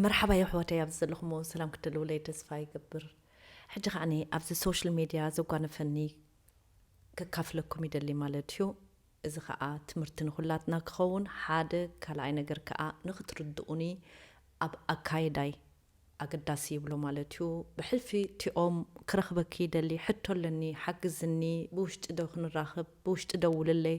መርሓባ የሕዋተይ ኣብዚ ዘለኹሞ ሰላም ክትደልውለይ ተስፋ ይገብር ሕጂ ከዓኒ ኣብዚ ሶሻል ሜድያ ዘጓነፈኒ ከካፍለኩም ይደሊ ማለት እዩ እዚ ከዓ ትምህርቲ ንኩላትና ክኸውን ሓደ ካልኣይ ነገር ከዓ ንክትርድኡኒ ኣብ ኣካይዳይ ኣገዳሲ ይብሎ ማለት እዩ ብሕልፊ ቲኦም ክረኽበኪ ይደሊ ሕቶ ኣለኒ ሓግዝኒ ብውሽጢ ዶ ክንራኽብ ብውሽጢ ደውልለይ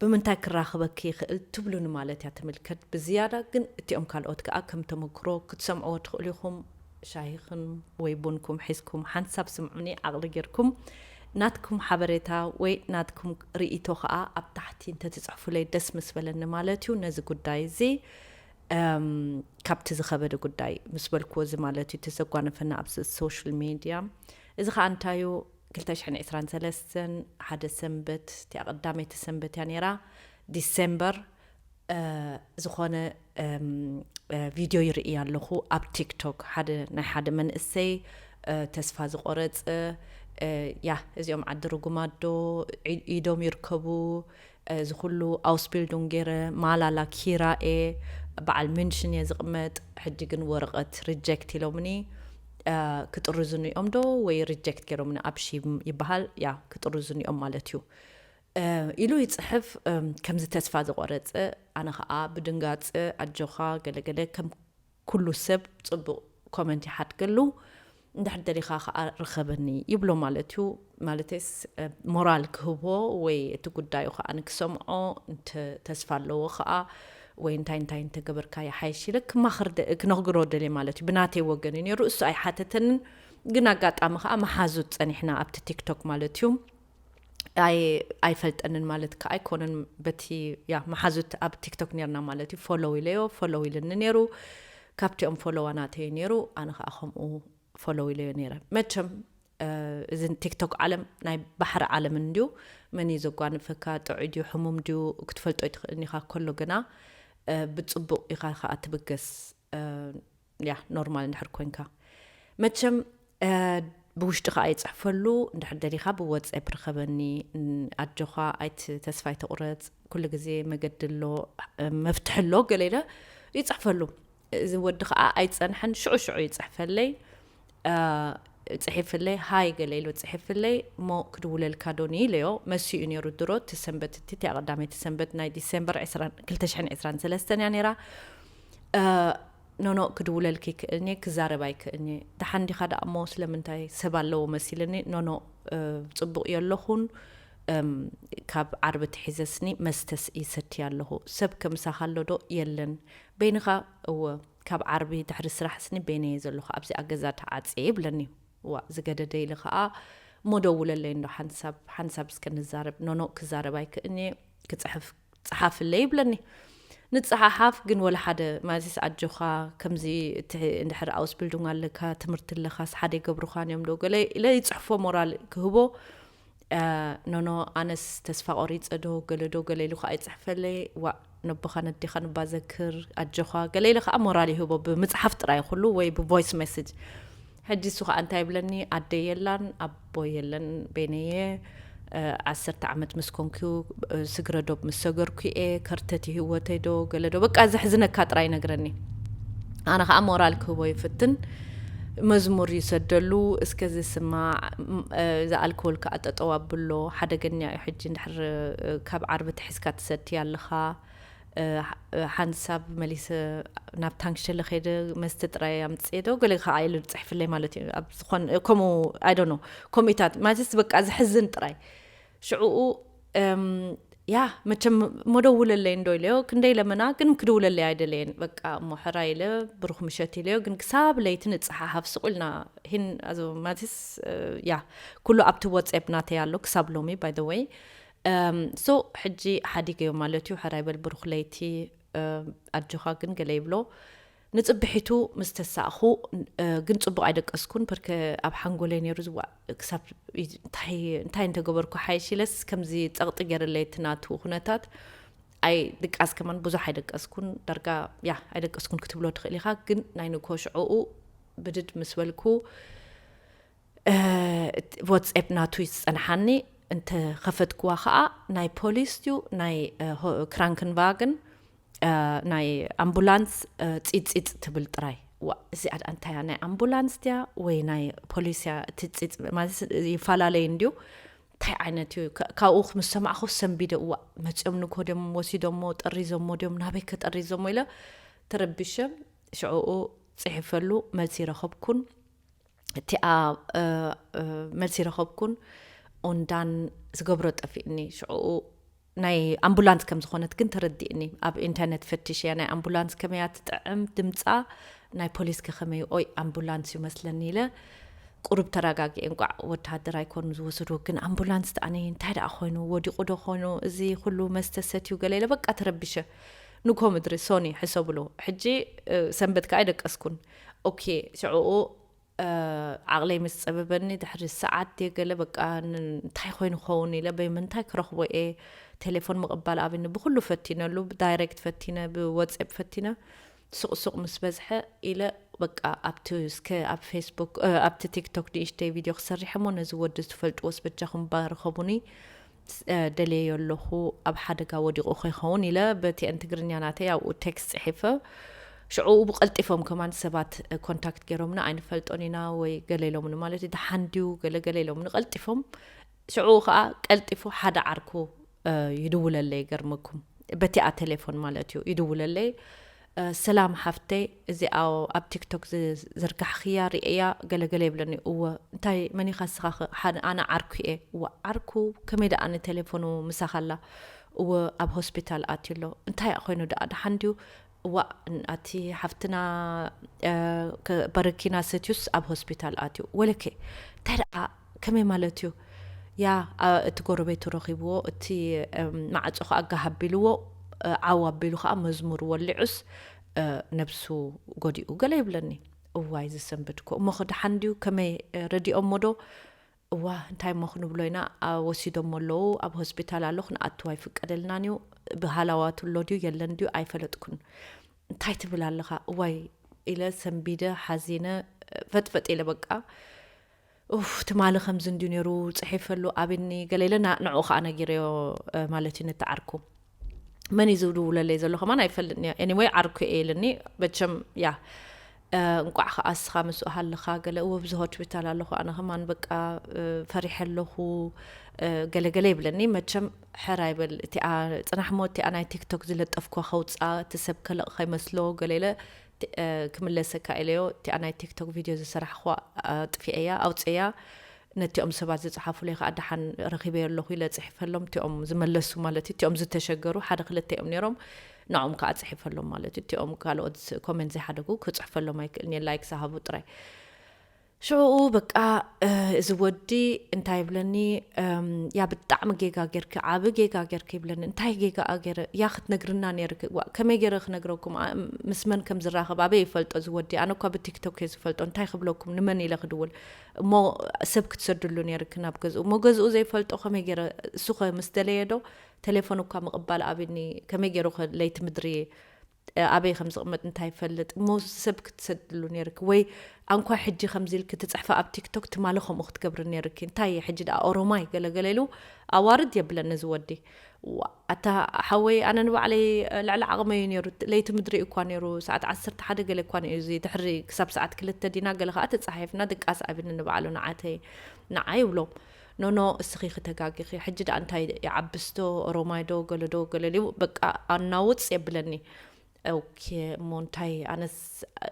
ብምንታይ ክራኽበኪ ይኽእል ትብሉኒ ማለት እያ ትምልከት ብዝያዳ ግን እቲኦም ካልኦት ከኣ ከም ተመክሮ ክትሰምዕዎ ትኽእሉ ኢኹም ሻሂኽም ወይ ቡንኩም ሒዝኩም ሓንሳብ ስምዑኒ ዓቕሊ ጌርኩም ናትኩም ሓበሬታ ወይ ናትኩም ርኢቶ ከኣ ኣብ ታሕቲ እንተትጽሕፉለይ ደስ ምስ በለኒ ማለት እዩ ነዚ ጉዳይ እዚ ካብቲ ዝኸበደ ጉዳይ ምስ በልክዎ እዚ ማለት እዩ እቲ ዘጓነፈና ኣብዚ ሶሻል ሜድያ እዚ ከኣ እንታዩ ክልተ ሽሕን ዕስራን ሰለስተን ሓደ ሰንበት እቲኣ ቀዳመይቲ ሰንበት እያ ነይራ ዲሰምበር ዝኾነ ቪድዮ ይርኢ ኣለኹ ኣብ ቲክቶክ ሓደ ናይ ሓደ መንእሰይ ተስፋ ዝቆረፀ ያ እዚኦም ዓዲ ርጉማዶ ኢዶም ይርከቡ እዚ ኩሉ ኣውስቢልዱንግ ጌረ ማላላ ኪራኤ በዓል ምንሽን እየ ዝቅመጥ ሕጂ ግን ወረቀት ርጀክት ኢሎምኒ ክጥርዙኒ እዮም ዶ ወይ ርጀክት ጌሮምኒ ኣብ ሺም ይበሃል ያ ክጥርዙኒ እዮም ማለት እዩ ኢሉ ይጽሕፍ ከምዚ ተስፋ ዝቆረጸ ኣነ ከኣ ብድንጋጸ ኣጆካ ገለገለ ከም ኩሉ ሰብ ጽቡቅ ኮመንት ይሓድገሉ እንድሕር ደሊካ ከኣ ርኸበኒ ይብሎ ማለት እዩ ማለተይስ ሞራል ክህቦ ወይ እቲ ጉዳዩ ከኣ ክሰምዖ እንተ ተስፋ ኣለዎ ከኣ ወይ እንታይ እንታይ እንተገበርካ ይሓይሽ ኢለ ክማኽር ክነግሮ ደልየ ማለት እዩ ብናተይ ወገን እዩ ነይሩ እሱ ኣይሓተተንን ግን ኣጋጣሚ ከኣ መሓዙት ጸኒሕና ኣብቲ ቲክቶክ ማለት እዩ ኣይፈልጠንን ማለት ከዓ ኣይኮነን በቲ ያ መሓዙት ኣብ ቲክቶክ ነርና ማለት እዩ ፎሎው ኢለዮ ፎሎው ኢልኒ ነይሩ ካብቲኦም ፎሎዋ ናተዩ ነይሩ ኣነ ከዓ ከምኡ ፎሎው ኢለዮ ነይረ መቸም እዚ ቲክቶክ ዓለም ናይ ባሕሪ ዓለም እንድዩ መን እዩ ዘጓንፈካ ጥዑይ ድዩ ሕሙም ድዩ ክትፈልጦ ይትኽእልን ኢኻ ከሎ ግና ብፅቡቕ ኢኻ ከዓ ትብገስ ያ ኖርማል እንድሕር ኮንካ መቸም ብውሽጢ ከዓ ይፅሕፈሉ እንድሕር ደሊካ ብወፀብ ርከበኒ ኣጆኻ ኣይት ተስፋ ይተቑረፅ ኩሉ ግዜ መገዲ ኣሎ መፍትሒ ኣሎ ገለ ኢለ ይፅሕፈሉ እዚ ወዲ ከዓ ኣይፀንሐን ሽዑ ሽዑ ይፅሕፈለይ ጽሒፍለይ ሃይ ገለ ኢሉ ጽሒፍለይ እሞ ክድውለልካ ዶ ንኢለዮ መሲኡ እዩ ነይሩ ድሮ እቲ ሰንበት እቲ እቲኣ ቀዳመይቲ ሰንበት ናይ ዲሴምበር 223 እያ ነይራ ኖኖ ክድውለልክ ይክእልኒ እየ ክዛረብ ኣይክእልኒ እየ ደሓን ዲኻ ደኣ እሞ ስለምንታይ ሰብ ኣለዎ መሲልኒ ኖኖ ጽቡቕ እዮ ኣለኹን ካብ ዓርቢ ትሒዘስኒ መስተስ ይሰትይ ኣለኹ ሰብ ከምሳኻ ኣሎ ዶ የለን በይንኻ እወ ካብ ዓርቢ ድሕሪ ስራሕስኒ በይነይ'የ ዘለኹ ኣብዚኣ ገዛ ተዓጽየ ይብለኒ። ዋእ ዝገደደ ኢለ ከኣ እሞ ደውለለይ እንዶ ሓንሳብ ሓንሳብ እስከ ንዛረብ። ኖኖእ ክዛረብ ኣይክእልን'የ ክጽሕፍ ጽሓፍለይ ይብለኒ። ንጸሓሓፍ ግን ወላ ሓደ ማለትስ ኣጆኻ ከምዚ እቲ እንድሕር ኣውስቢልዱንግ ኣለካ ትምህርቲ ኣለካስ ሓደ ኣይገብሩኻን'ዮም ዶ ገለ ኢለ ይጽሕፎ ሞራል ክህቦ ኖኖ ኣነስ ተስፋ ቆሪጸ ዶ ገለ ዶ ገለ ኢሉ ከኣ ይጽሕፈለይ ዋእ ነቦኻ ነዴኻ ንባ ዘክር ኣጆኻ ገለ ኢለ ከኣ ሞራል ይህቦ ብምጽሓፍ ጥራይ ኩሉ ወይ ብቮይስ ሜሴጅ ሕጂ እሱ ከኣ እንታይ ይብለኒ ኣደ የላን ኣቦ የለን ቤነየ ዓሰርተ ዓመት ምስ ኮንኩ ስግረ ዶብ ምስ ሰገርኩ እየ ከርተት ህወተይ ዶ ገለ ዶ በቃ ዘሕዝነካ ጥራይ ይነግረኒ ኣነ ከዓ ሞራል ክህቦ ይፍትን መዝሙር ይሰደሉ እስከ ዝስማዕ እዛ ኣልኮል ክኣ ጠጠው ኣብሎ ሓደገኛ እዩ ሕጂ እንድሕር ካብ ዓርቢ ትሒዝካ ትሰቲ ኣለኻ ሓንሳብ መሊሰ ናብ ታንክሸለ ከይደ መስተ ጥራይ ኣምጽኤ ዶ ገለ ክኣ ኢሉ ጽሕፍለይ ማለት እዩ ኣብ ዝኾን ከምኡ ኣይ ዶንት ኖ ከምኡታት ማለትስ በቃ ዝሕዝን ጥራይ ሽዕኡ ያ መቸም እሞ ደውለለይ እንዶ ኢለዮ ክንደይ ለመና ግን ክድውለለይ ኣይደለየን በቃ እሞ ሕራይ ኢለ ብሩኽ ምሸት ኢለዮ ግን ክሳብ ለይቲ ንፀሓሓፍ ስቁ ኢልና ሂን ኣዞ ማቲስ ያ ኩሉ ኣብቲ ወፅብ ናተይ ኣሎ ክሳብ ሎሚ ባይ ዘ ወይ ሶ ሕጂ ሓዲገዮ ማለት እዩ ሕራይ በል ብሩኽ ለይቲ ኣጆኻ ግን ገለ ይብሎ ንጽብሒቱ ምስ ተሳእኩ ግን ጽቡቕ ኣይደቀስኩን በርከ ኣብ ሓንጎለይ ነይሩ ዝዋእ ክሳብ እንታይ እንተገበርኩ ሓይሽ ኢለስ ከምዚ ጸቕጢ ገይርለይ እቲ ናቱ ኩነታት ኣይ ድቃስ ከማን ብዙሕ ኣይደቀስኩን ዳርጋ ያ ኣይደቀስኩን ክትብሎ ትኽእል ኢኻ ግን ናይ ንኮ ሽዕኡ ብድድ ምስ በልኩ ወትስኤፕ ናቱ እዩ ዝፀንሓኒ እንተ ከፈትክዋ ከዓ ናይ ፖሊስ እዩ ናይ ክራንክንቫግን ናይ ኣምቡላንስ ፂፅፅ ትብል ጥራይ እዚኣ ድኣ እንታይ እያ ናይ ኣምቡላንስ ድያ ወይ ናይ ፖሊስ እያ እቲ ፂፅ ማለት ይፈላለዩ እንድዩ እንታይ ዓይነት እዩ ካብኡ ምስ ሰማዕኹ ሰንቢደ እዋ መፅኦም ንኮ ድም ወሲዶሞ ጠሪዞሞ ድም ናበይ ከጠሪዞሞ ኢለ ተረቢሸ ሽዕኡ ፅሒፈሉ መልሲ ረኸብኩን እቲኣ መልሲ ረኸብኩን ኦንዳን ዝገብሮ ጠፊእኒ ሽዑኡ ናይ ኣምቡላንስ ከም ዝኾነት ግን ተረዲእኒ ኣብ ኢንተርነት ፈትሽ እያ ናይ ኣምቡላንስ ከመይ እያ ትጥዕም ድምፃ ናይ ፖሊስ ከከመይ ኦይ ኣምቡላንስ እዩ መስለኒ ኢለ ቁሩብ ተረጋጊ እንቋዕ ወተሃደር ኣይኮኑ ዝወሰድዎ ግን ኣምቡላንስ ተኣነ እንታይ ደኣ ኮይኑ ወዲቑ ዶ ኮይኑ እዚ ኩሉ መስተ ሰትዩ ገለ ኢለ በቃ ተረቢሸ ንኮ ምድሪ ሶኒ ሕሰብሉ ሕጂ ሰንበት ከዓ ኣይደቀስኩን ኦኬ ሽዕኡ ዓቕለይ ምስ ጸበበኒ ድሕሪ ሰዓት ድየ ገለ በቃ እንታይ ኮይኑ ክኸውን ኢለ በይምንታይ ክረኽቦ እየ ቴሌፎን ምቕባል ኣብኒ ብኩሉ ፈቲነሉ ዳይሬክት ፈቲነ ብወጼፕ ፈቲነ ሱቕሱቕ ምስ በዝሐ ኢለ በቃ ኣብቲ እስከ ኣብ ፌስቡክ ኣብቲ ቲክቶክ ንእሽተይ ቪድዮ ክሰርሐ እሞ ነዚ ወዲ ዝትፈልጥዎስ በጃኹም ባርኸቡኒ ደልየዮ ኣለኹ ኣብ ሓደጋ ወዲቑ ከይኸውን ኢለ ብቲኤን ትግርኛ ናተይ ኣብኡ ቴክስት ጽሒፈ ሽዑ ብቀልጢፎም ከማን ሰባት ኮንታክት ገይሮምና ኣይንፈልጦን ኢና ወይ ገለ ኢሎምኒ ማለት እዩ ተሓንድዩ ገለገለ ኢሎምኒ ቀልጢፎም ሽዑ ከዓ ቀልጢፉ ሓደ ዓርኩ ይድውለለይ ይገርመኩም በቲኣ ቴሌፎን ማለት እዩ ይድውለለይ ሰላም ሓፍተይ እዚኣ ኣብ ቲክቶክ ዝዘርጋሕኽያ ሪኤያ ገለ ገለ ይብለኒ እወ እንታይ መኒኻ እስኻኸ ኣነ ዓርኩ እየ እወ ዓርኩ ከመይ ደኣ ንቴሌፎኑ ምሳኻ ኣላ እወ ኣብ ሆስፒታል ኣትዩ ኣሎ እንታይ እያ ኮይኑ ደኣ ደሓን ድዩ እዋ ኣቲ ሓፍትና በረኪና ሰትዩስ ኣብ ሆስፒታል ኣትዩ ወለከ እንታይ ደኣ ከመይ ማለት እዩ ያ እቲ ጎረቤቱ ረኺብዎ እቲ ማዕጾ ከኣ ጋህ ኣቢልዎ ዓው ኣቢሉ ከኣ መዝሙር ወሊዑስ ነብሱ ጎዲኡ ገለ ይብለኒ እዋይ ዝሰንበድኮ እሞኸ ደሓን ድዩ ከመይ ረዲኦሞዶ እዋ እንታይ እሞ ክንብሎ ኢና ወሲዶሞ ኣለዉ ኣብ ሆስፒታል ኣሎ ክንኣትዎ ኣይፍቀደልናን እዩ ብሃላዋቱ ኣሎ ድዩ የለን ድዩ ኣይፈለጥኩን እንታይ ትብል ኣለኻ እዋይ ኢለ ሰንቢደ ሓዚነ ፈጥፈጥ ኢለ በቃ ኡፍ ትማሊ ከምዚ እንድዩ ነይሩ ጽሒፈሉ ኣብኒ ገለ ኢለ ንዑኡ ከኣ ነጊረዮ ማለት እዩ ንተዓርኩ መን እዩ ዝድውለለይ ዘሎ ከማን ኣይፈልጥን እየ ኤኒወይ ዓርኩ እየ ኢልኒ መቸም ያ እንቋዕ ከዓ እስኻ ምስ ሃልኻ ገለ እወ ብዚ ሆስፒታል ኣለኹ ኣነ ከማን በቃ ፈሪሐ ኣለኹ ገለገለ ይብለኒ መቸም ሕራ ይበል እቲኣ ፅናሕ ሞ እቲኣ ናይ ቲክቶክ ዝለጠፍኳ ከውፃ እቲ ሰብ ከለቕ ከይመስሎ ገለ ኢለ ክምለሰካ ኢለዮ እቲኣ ናይ ቲክቶክ ቪድዮ ዝሰራሕክዋ ኣጥፊኤያ ኣውጽኤያ ነቲኦም ሰባት ዝጸሓፉለይ ከኣ ደሓን ረኺበዮ ኣለኹ ኢለ ጽሒፈሎም እቲኦም ዝመለሱ ማለት እዩ እቲኦም ዝተሸገሩ ሓደ ክልተ እዮም ነይሮም ንዕኦም ከኣ ጽሒፈሎም ማለት እዩ እቲኦም ካልኦት ኮሜንት ዘይሓደጉ ክጽሕፈሎም ኣይክእልን እየ ላይክ ዝሃቡ ጥራይ ሽዑኡ በቃ እዚ ወዲ እንታይ ይብለኒ ያ ብጣዕሚ ጌጋ ጌርኪ ዓቢ ጌጋ ጌርኪ ይብለኒ እንታይ ጌጋኣ ገይረ ያ ክትነግርና ነይርኪ ከመይ ገይረ ክነግረኩም ምስ መን ከም ዝራኸብ ኣበይ ይፈልጦ እዚ ወዲ ኣነ እኳ ብቲክቶክ እየ ዝፈልጦ እንታይ ክብለኩም ንመን ኢለ ክድውል እሞ ሰብ ክትሰድሉ ነይርኪ ናብ ገዝኡ እሞ ገዝኡ ዘይፈልጦ ከመይ ገይረ እሱ ኸ ምስ ደለየ ዶ ቴሌፎን እኳ ምቕባል ኣቢኒ ከመይ ገይሩ ኸ ለይቲ ምድሪ ኣበይ ከም ዝቕመጥ እንታይ ይፈልጥ እሞ ሰብ ክትሰድሉ ነይርኪ ወይ ኣንኳ ሕጂ ከምዚ ኢልኪ ትጽሕፊ ኣብ ቲክቶክ ትማሊ ከምኡ ክትገብሪ ነይርኪ እንታይ እየ ሕጂ ደኣ ኦሮማይ ገለገለ ኢሉ ኣዋርድ የብለን እዚ ወዲ ኣታ ሓወይ ኣነ ንባዕለይ ልዕሊ ዓቕመ እዩ ነይሩ ለይቲ ምድሪ እኳ ነይሩ ሰዓት ዓሰርተ ሓደ ገለ እኳ እዩ እዚ ድሕሪ ክሳብ ሰዓት ክልተ ዲና ገለ ከዓ ተፃሓይፍና ድቃስ ኣብኒ ንባዕሉ ንዓተይ ንዓ ይብሎ ኖኖ እስኺ ክተጋጊኺ ሕጂ ዳኣ እንታይ ይዓብስ ዶ ኦሮማይ ዶ ገለ ዶ ገለ ልዩ በቃ ኣናውጽ የብለኒ ኦኬ እሞ እንታይ ኣነስ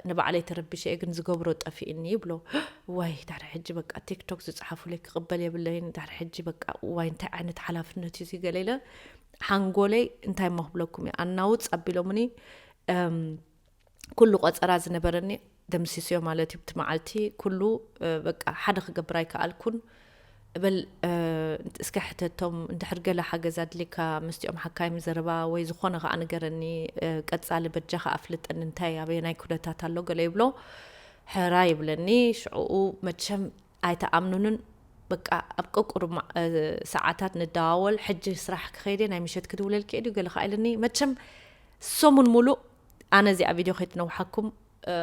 ንባዕለይ ተረቢሸ እየ ግን ዝገብሮ ጠፊእኒ ይብሎ ዋይ ዳሕሪ ሕጂ በቃ ቲክቶክ ዝጽሓፉለይ ክቕበል የብለይን ዳሕሪ ሕጂ በቃ ዋይ እንታይ ዓይነት ሓላፍነት እዩ ገለ ኢለ ሓንጎለይ እንታይ እሞ ክብለኩም እየ ኣናውጽ ኣቢሎምኒ ኩሉ ቆጸራ ዝነበረኒ ደምሲስዮ ማለት እዩ። እቲ መዓልቲ ኩሉ በቃ ሓደ ክገብር ኣይከኣልኩን። እበል እስከ ሕተቶም እንድሕር ገለ ሓገዝ ኣድልየካ ምስቲኦም ሓካይም ዘረባ ወይ ዝኾነ ከዓ ንገረኒ፣ ቀጻሊ በጃኻ ኣፍልጠኒ እንታይ ኣበየናይ ኩነታት ኣሎ ገለ ይብሎ። ሕራ ይብለኒ። ሽዕኡ መቸም ኣይትኣምኑንን በቃ ኣብ ቀቁሩብ ማ- እ፣ ሰዓታት ንደዋወል ሕጂ ስራሕ ክኸይድ እየ ናይ ምሸት ክድውለልኪ እየ ድዩ ገለ ከኣ ኢሉኒ መቸም ሰሙን ሙሉእ ኣነ እዚኣ ቪድዮ ከይትነውሓኩም እ፣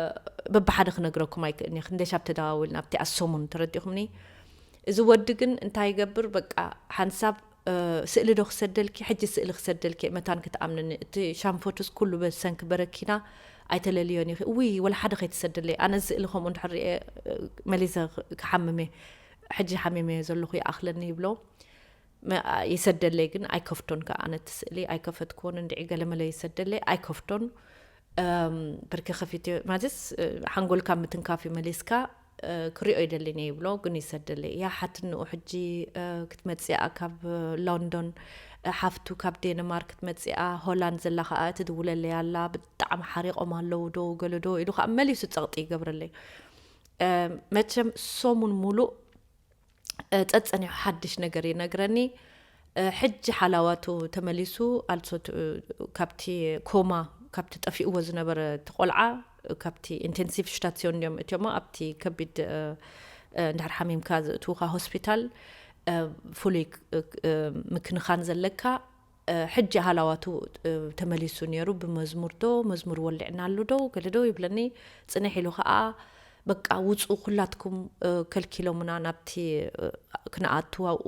በብሓደ ክነግረኩም ኣይክእልን እየ ክንደሻብ ተደዋዊልና ኣብቲኣ ሰሙን ተረዲእኹምኒ እዚ ወዲ ግን እንታይ ይገብር በቃ ሓንሳብ ስእሊ ዶ ክሰደልኪ ሕጂ ስእሊ ክሰደልኪ መታን ክትኣምንኒ እቲ ሻንፎትስ ኩሉ በሰንኪ በረኪና ኣይተለልዮን ኢኪ እውይ ወላ ሓደ ከይትሰድለይ ኣነ ስእሊ ከምኡ እንድሕር ሪኤ መሊሰ ክሓምም እየ ሕጂ ሓሚመ እየ ዘለኩ ይኣክለኒ ይብሎ ይሰደለይ ግን ኣይከፍቶን ከ ኣነ እቲ ስእሊ ኣይከፈትክዎን እንድዒ ገለመለ ይሰደለይ ኣይከፍቶን ብርኪ ከፊት ማለትስ ሓንጎልካ ምትንካፍ እዩ መሊስካ ክሪኦ ይደሊን እየ ይብሎ ግን ይሰደለይ እያ ሓትንኡ ሕጂ ክትመጽኣ ካብ ሎንዶን ሓፍቱ ካብ ዴንማርክ ክትመጽኣ ሆላንድ ዘላ ከኣ ትድውለለይ ኣላ ብጣዕሚ ሓሪቆም ኣለዉ ዶ ገለ ዶ ኢሉ ከኣ መሊሱ ጸቕጢ ይገብረለይ መቸም ሰሙን ሙሉእ ጸጸኒሑ ሓድሽ ነገር ይነግረኒ ሕጂ ሓላዋቱ ተመሊሱ ኣልሶ ካብቲ ኮማ ካብቲ ጠፊእዎ ዝነበረ እቲ ቆልዓ ካብቲ ኢንቴንሲቭ ሽታትሲዮን እዮም እትዮሞ ኣብቲ ከቢድ እንድሕር ሓሚምካ ዝእትውካ ሆስፒታል ፍሉይ ምክንኻን ዘለካ ሕጂ ሃላዋቱ ተመሊሱ ኔሩ ብመዝሙር ዶ መዝሙር ወሊዕናሉ ዶ ገለ ዶ ይብለኒ ጽንሕ ኢሉ ከኣ በቃ ውጹ ኩላትኩም ከልኪሎምና ናብቲ ክንኣቱ ኣብኡ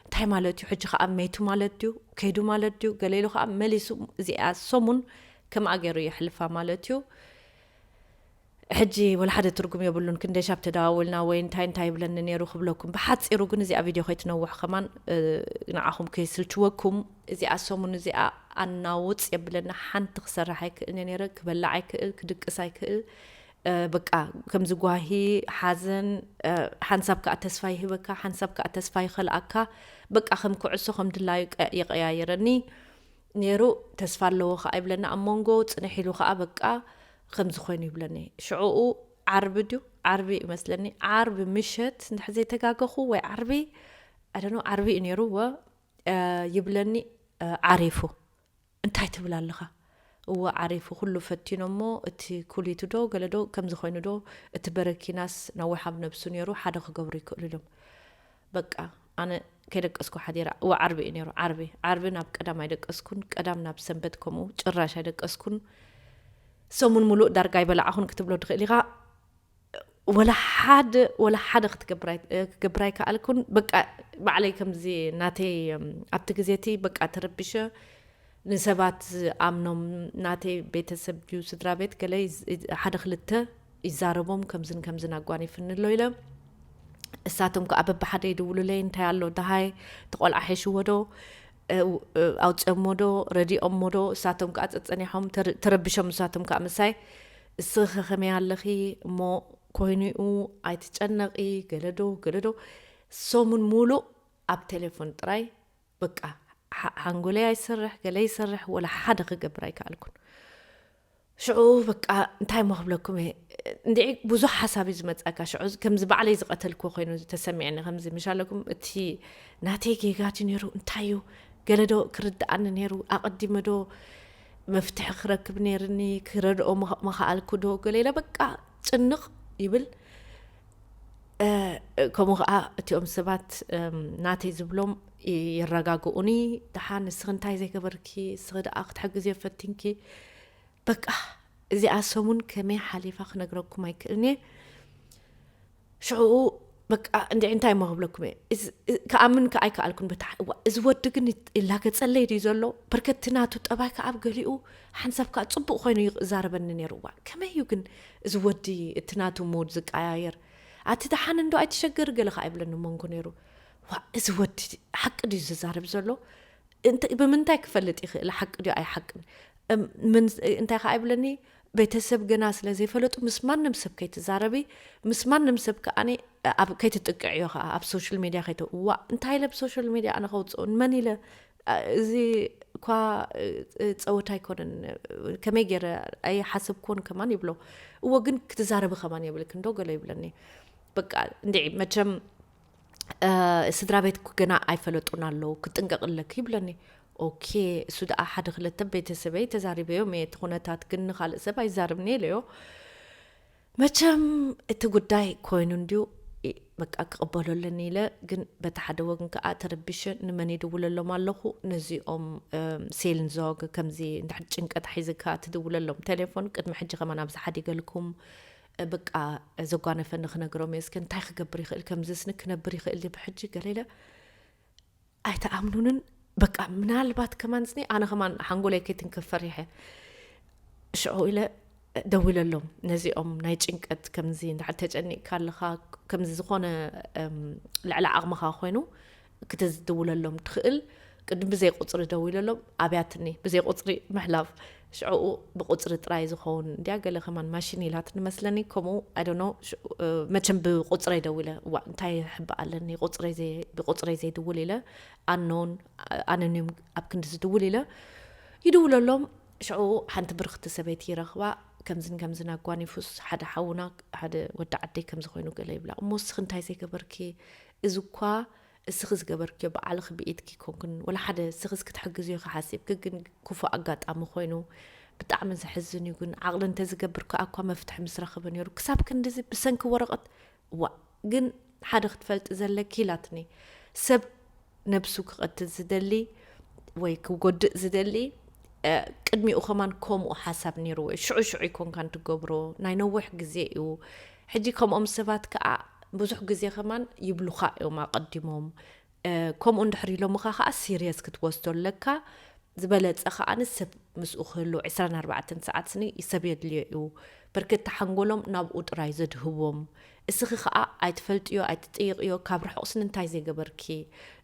እንታይ ማለት እዩ ሕጂ ከኣ መይቱ ማለት ድዩ ከይዱ ማለት ድዩ ገለ ኢሉ ከኣ መሊሱ እዚኣ ሰሙን ከምኣ ገይሩ የሕልፋ ማለት እዩ ሕጂ ወላ ሓደ ትርጉም የብሉን ክንደይ ሻብ ተደዋውልና ወይ እንታይ እንታይ ይብለኒ ኔሩ ክብለኩም ብሓጺሩ ግን እዚኣ ቪድዮ ከይትነውሕ ከማን ንዓኹም ከይስልችወኩም እዚኣ ሰሙን እዚኣ ኣናውጽ የብለና ሓንቲ ክሰርሕ ኣይክእልን ኔረ ክበላዕ ኣይክእል ክድቅስ ኣይክእል በቃ ከምዚ ጓሂ ሓዘን ሓንሳብ ከዓ ተስፋ ይህበካ ሓንሳብ ከዓ ተስፋ ይኸልኣካ በቃ ከም ኩዕሶ ከም ድላዩ ይቀያየረኒ ኔሩ ተስፋ ኣለዎ ከኣ ይብለኒ ኣብ ሞንጎ ጽንሕ ኢሉ ከኣ በቃ ከምዚ ኮይኑ ይብለኒ ሽዑኡ ዓርቢ ድዩ ዓርቢ እዩ መስለኒ ዓርቢ ምሸት እንድሕር ዘይተጋገኹ ወይ ዓርቢ ኣደኖ ዓርቢ እዩ ኔሩ ወ ይብለኒ ዓሪፉ እንታይ ትብል ኣለኻ እወ ዓሪፉ ኩሉ ፈቲኖ እሞ እቲ ኩሊቱ ዶ ገለ ዶ ከምዚ ኮይኑ ዶ እቲ በረኪናስ ነዊሕ ኣብ ነብሱ ነይሩ ሓደ ክገብሩ ይክእሉ ኢሎም በቃ ኣነ ከይደቀስኩ ሓዲረ እወ ዓርቢ እዩ ነይሩ ዓርቢ ዓርቢ ናብ ቀዳም ኣይደቀስኩን ቀዳም ናብ ሰንበት ከምኡ ጭራሽ ኣይደቀስኩን ሰሙን ሙሉእ ዳርጋ ኣይበላዕኹን ክትብሎ ትኽእል ኢኻ ወላ ሓደ ወላ ሓደ ክትገብር ኣይከኣልኩን በቃ ባዕለይ ከምዚ ናተይ ኣብቲ ግዜ እቲ በቃ ተረቢሸ ንሰባት ኣምኖም ናተይ ቤተሰብ ድዩ ስድራ ቤት ገለ ሓደ ክልተ ይዛረቦም ከምዝን ከምዝን ኣጓኒፍኒ ኣሎ ኢለ እሳቶም ከዓ በብሓደ ይድውሉለይ እንታይ ኣሎ ደሃይ እቲ ቆልዓ ሒሽዎ ዶ ኣውፅኦሞ ዶ ረዲኦሞ ዶ እሳቶም ከዓ ፀፀኒሖም ተረብሾም እሳቶም ከዓ ምሳይ እስኺ ከ ከመይ ኣለኺ እሞ ኮይኑኡ ኣይትጨነቂ ገለዶ ገለዶ ሰሙን ሙሉእ ኣብ ቴሌፎን ጥራይ በቃ ሓንጎለይ ኣይሰርሕ ገለ ይሰርሕ ወላ ሓደ ክገብር ኣይከኣልኩን ሽዑ በቃ እንታይሞ ክብለኩም እየ እንድዒ ብዙሕ ሓሳብ እዩ ዝመፅኣካ ሽዑ ከምዚ ባዕለይ ዝቐተልክዎ ኮይኑ ተሰሚዐኒ ከምዚ ምሻለኩም እቲ ናተይ ጌጋ ድዩ ነይሩ እንታይ እዩ ገለ ዶ ክርድኣኒ ነይሩ ኣቐዲመ ዶ መፍትሒ ክረክብ ነይርኒ ክረድኦ መኸኣልኩ ዶ ገለ ኢለ በቃ ጭንቕ ይብል ከምኡ ከዓ እቲኦም ሰባት ናተይ ዝብሎም የረጋግኡኒ ድሓ ንስኺ እንታይ ዘይገበርኪ እስኺ ደኣ ክትሕግዝ እዮ ፈቲንኪ በቃ እዚኣ ሰሙን ከመይ ሓሊፋ ክነግረኩም ኣይክእልን እየ ሽዕኡ በቃ እንዲ እንታይ እሞ ክብለኩም እየ ከኣምን ከዓ ኣይከኣልኩን በታ እዚ ወዲ ግን ይላገፀለይ ድዩ ዘሎ በርከቲ ናቱ ጠባይ ከዓ ኣብ ገሊኡ ሓንሳብ ከዓ ፅቡቅ ኮይኑ ይዛረበኒ ነይሩ እዋ ከመይ እዩ ግን እዚ ወዲ እቲ ናቱ ሞድ ዝቀያየር ኣቲ ደሓን እንዶ ኣይትሸገር ገለ ከኣ ይብለኒ መንጎ ነይሩ ዋእ እዚ ወዲ ሓቂ ድዩ ዝዛረብ ዘሎ ብምንታይ ክፈልጥ ይኽእል ሓቂ ድዩ ኣይሓቅን እንታይ ከኣ ይብለኒ ቤተሰብ ገና ስለ ዘይፈለጡ ምስ ማንም ሰብ ከይትዛረቢ ምስ ማንም ሰብ ከኣ ኣብ ከይትጥቅዕዮ ከዓ ኣብ ሶሻል ሚድያ ከይተ ዋ እንታይ ኢለ ብሶሻል ሚድያ ኣነ ከውፅኦ ንመን ኢለ እዚ'ኳ ጸወታ ኣይኮነን፣ ከመይ ገይረ ኣይሓሰብክዎን ከማን ይብሎ። እዎ ግን ክትዛረቢ ከማን የብልክንዶ ገለ ይብለኒ። በቃ እንድዒ መቸም ስድራ ቤትኩ ገና ኣይፈለጡን ኣለዉ፣ ክትጥንቀቂ ኣለኪ ይብለኒ። ኦኬ እሱ ደኣ ሓደ ክለተ ቤተሰበይ ተዛሪበዮም እየ፣ እቲ ኩነታት ግን ንኻልእ ሰብ ኣይዛረብንየ ኢለዮ። መቸም እቲ ጉዳይ ኮይኑ እንድዩ በቃ ክቕበሎ ኣለኒ ኢለ ግን በቲ ሓደ ወግን ከዓ ተረቢሸ ንመን ይድውለሎም ኣለኹ ነዚኦም ሴልን ዞግ ከምዚ እንድሕር ጭንቀት ሒዝካ ትድውለሎም ቴሌፎን ቅድሚ ሕጂ ከማን ኣብዚ ሓዲገልኩም በቃ ዘጓነፈኒ ክነግሮም እየ እስከ እንታይ ክገብር ይኽእል ከምዚስኒ ክነብር ይኽእል ድየ ብሕጂ ገለ ኢለ ኣይትኣምኑንን በቃ ምናልባት ከማን ስኒ ኣነ ከማን ሓንጎለይ ከይትንከፍ ፈሪሐ ሽዑ ኢለ ደዊለሎም ነዚኦም ናይ ጭንቀት ከምዚ እንድሕር ተጨኒቕካ ኣለኻ ከምዚ ዝኾነ ልዕሊ ዓቕምኻ ኮይኑ ክትዝድውለሎም ትኽእል ቅድም ብዘይ ቁፅሪ ደዊለሎም ኣብያትኒ ብዘይ ቁፅሪ ምሕላፍ ሽዕኡ ብቁጽሪ ጥራይ ዝኮውን እንድያ ገለ ከማን ማሽን ኢላትኒ መስለኒ ከምኡ ኣይ ዶንት ኖው ሽዑ መቸም ብቁጽረይ ደዊለ ዋእ እንታይ ሕባእ ኣለኒ ቁጽረይ ዘይ ብቁጽረይ ዘይድውል ኢለ ኣኖን ኣነኒም ኣብ ክንዲ ዝድውል ኢለ ይድውለሎም ሽዑ ሓንቲ ብርክቲ ሰበይቲ ይረኽባ ከምዝን ከምዝን ኣጓኒፉስ ሓደ ሓውና ሓደ ወዲ ዓደይ ከምዚ ኮይኑ ገለ ይብላ እሞ እስኺ እንታይ ዘይገበርኪ እዚ እኳ እስኺ ዝገበርክዮ ባዕልኺ ብኢድኪ ኮንክን ወላ ሓደ እስኺ ክትሕግዝዮ ኢኺ ሓሲብኪ ግን ኩፉእ ኣጋጣሚ ኮይኑ ብጣዕሚ ዘሕዝን እዩ ግን ዓቕሊ እንተዝገብር ከኣ እኳ መፍትሒ ምስ ረኸበ ነይሩ ክሳብ ክንድዚ ብሰንኪ ወረቐት ዋእ ግን ሓደ ክትፈልጢ ዘለኪ ኢላትኒ ሰብ ነብሱ ክቐትል ዝደሊ ወይ ክጎድእ ዝደሊ ቅድሚኡ ከማን ከምኡ ሓሳብ ነይርዎ እዩ ሽዑ ሽዑ ይኮንካ እንትገብሮ ናይ ነዊሕ ግዜ እዩ ሕጂ ከምኦም ሰባት ከኣ ብዙሕ ግዜ ከማን ይብሉኻ እዮም ኣቀዲሞም ከምኡ እንድሕር ኢሎምኻ ከኣ ሲርየስ ክትወስዶ ኣለካ ዝበለጸ ከኣ ሰብ ምስኡ ክህሉ ዕስራን ኣርባዕተን ሰዓት ስኒ ሰብ የድልዮ እዩ በርከቲ ሓንጎሎም ናብኡ ጥራይ ዘድህቦም እስኺ ከኣ ኣይትፈልጥዮ ኣይትጥይቕዮ ካብ ርሑቕ ስኒ እንታይ ዘይገበርኪ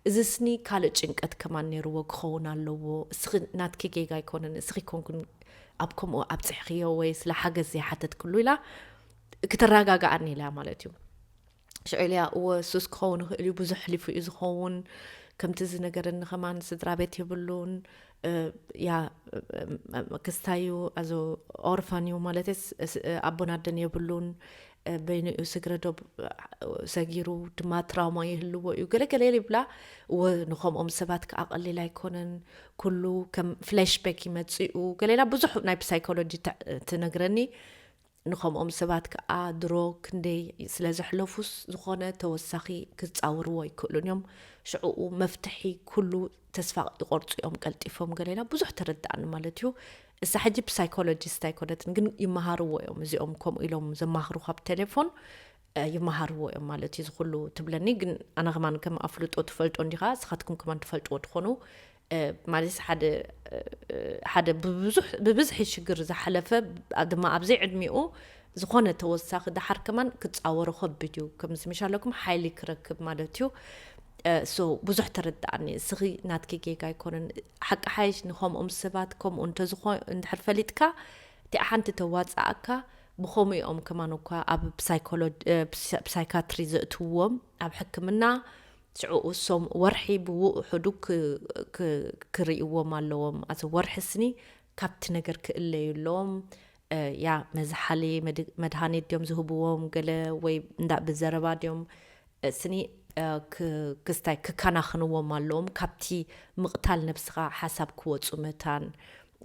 እዚ ስኒ ካልእ ጭንቀት ከማን ነይርዎ ክኸውን ኣለዎ እስኺ ናትኪ ጌጋ ኣይኮነን እስኺ ኮንኩን ኣብ ከምኡ ኣብጽሕኽዮ ወይ ስለ ሓገዝ ዘይሓተትክሉ ኢላ ክትረጋጋኣኒ ኢለያ ማለት እዩ ሽዑ ኢለያ እወ ሱስ ክኸውን ይኽእል እዩ ብዙሕ ሕሊፉ እዩ ዝኸውን ከምቲ ዝነገረኒ ከማን ስድራ ቤት የብሉን ያ ክስታዩ ኣዞ ኦርፋን እዩ ማለት ኣቦናደን የብሉን በይኑ እዩ ስግረ ዶብ ሰጊሩ ድማ ትራውማ ይህልዎ እዩ ገለገለ ይብላ እወ ንከምኦም ሰባት ከዓ ቀሊል ኣይኮነን ኩሉ ከም ፍላሽ ባክ ይመፅኡ ገሌላ ብዙሕ ናይ ብሳይኮሎጂ ትነግረኒ ንከምኦም ሰባት ከኣ ድሮ ክንደይ ስለ ዘሕለፉስ ዝኾነ ተወሳኺ ክጻወርዎ ኣይክእሉን እዮም ሽዕኡ መፍትሒ ኩሉ ተስፋ ይቆርጹ እዮም ቀልጢፎም ገሌና ብዙሕ ተረዳኣኒ ማለት እዩ እሳ ሕጂ ብሳይኮሎጂስት ኣይኮነትን ግን ይመሃርዎ እዮም እዚኦም ከምኡ ኢሎም ዘማኽሩ ካብ ቴሌፎን ይመሃርዎ እዮም ማለት እዩ ዝኩሉ ትብለኒ ግን ኣነ ከማን ከም ኣፍልጦ ትፈልጦ እንዲኻ ስኻትኩም ከማን ትፈልጥዎ ትኾኑ ማለት ሓደ ሓደ ብብዝሒ ሽግር ዝሓለፈ ድማ ኣብ ዘይዕድሚኡ ዝኾነ ተወሳኺ ደሓር ከማን ክፃወሮ ከቢድ እዩ ከምዚ ምሽ ኣለኩም ሓይሊ ክረክብ ማለት እዩ ሶ ብዙሕ ተረዳእኒ እስኺ ናትኪ ጌጋ ኣይኮነን ሓቂ ሓይሽ ንከምኦም ሰባት ከምኡ እንተዝኾ እንድሕር ፈሊጥካ እቲኣ ሓንቲ ተዋፅኣካ ብከምኡ እዮም ከማን እኳ ኣብ ሳይካትሪ ዘእትዎም ኣብ ሕክምና ሽዑ እሶም ወርሒ ብውእሑዱ ክርእይዎም ኣለዎም ኣቲ ወርሒ ስኒ ካብቲ ነገር ክእለዩ ኣሎም ያ መዝሓሊ መድሃኒት ድዮም ዝህብዎም ገለ ወይ እንዳ ብዘረባ ድዮም ስኒ ክስታይ ክካናክንዎም ኣለዎም ካብቲ ምቕታል ነብስኻ ሓሳብ ክወጹ መታን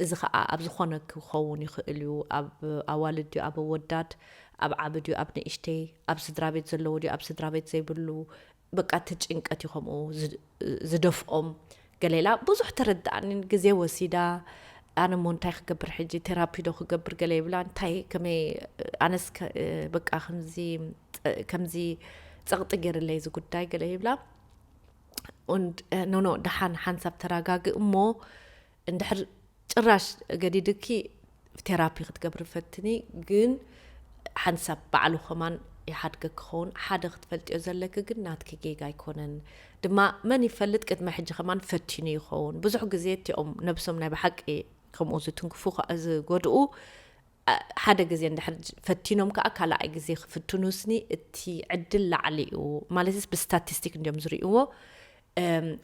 እዚ ኸኣ ኣብ ዝኾነ ክኸውን ይኽእል እዩ ኣብ ኣዋልድ ድዩ ኣብ ኣወዳት ኣብ ዓቢ ድዩ ኣብ ንእሽተይ ኣብ ስድራቤት ዘለዎ ድዩ ኣብ ስድራቤት ዘይብሉ በቃ እቲ ጭንቀት እዩ ከምኡ ዝደፍኦም ገለ ኢላ ብዙሕ ተረድኣኒን ግዜ ወሲዳ ኣነ እሞ እንታይ ክገብር ሕጂ ቴራፒ ዶ ክገብር ገለ ይብላ እንታይ ከመይ ኣነስ በቃ ከምዚ ከምዚ ጸቕጢ ገይርለይ እዚ ጉዳይ ገለ ይብላ ኖኖ ደሓን ሓንሳብ ተረጋግእ እሞ እንድሕር ጭራሽ ገዲድኪ ቴራፒ ክትገብሪ ፈትኒ ግን ሓንቲ ሳብ ባዕሉ ከማን ይሓድገ ክኸውን ሓደ ክትፈልጥዮ ዘለኪ ግን ናትኪ ጌጋ ኣይኮነን ድማ መን ይፈልጥ ቅድመ ሕጂ ከማን ፈቲኑ ይኸውን ብዙሕ ግዜ እቲኦም ነብሶም ናይ ብሓቂ ከምኡ ዝትንክፉ ዝጎድኡ ሓደ ግዜ እንድሕር ፈቲኖም ከኣ ካልኣይ ግዜ ክፍትኑስኒ እቲ ዕድል ላዕሊ እዩ ማለትስ ብስታቲስቲክ እንድዮም ዝርእይዎ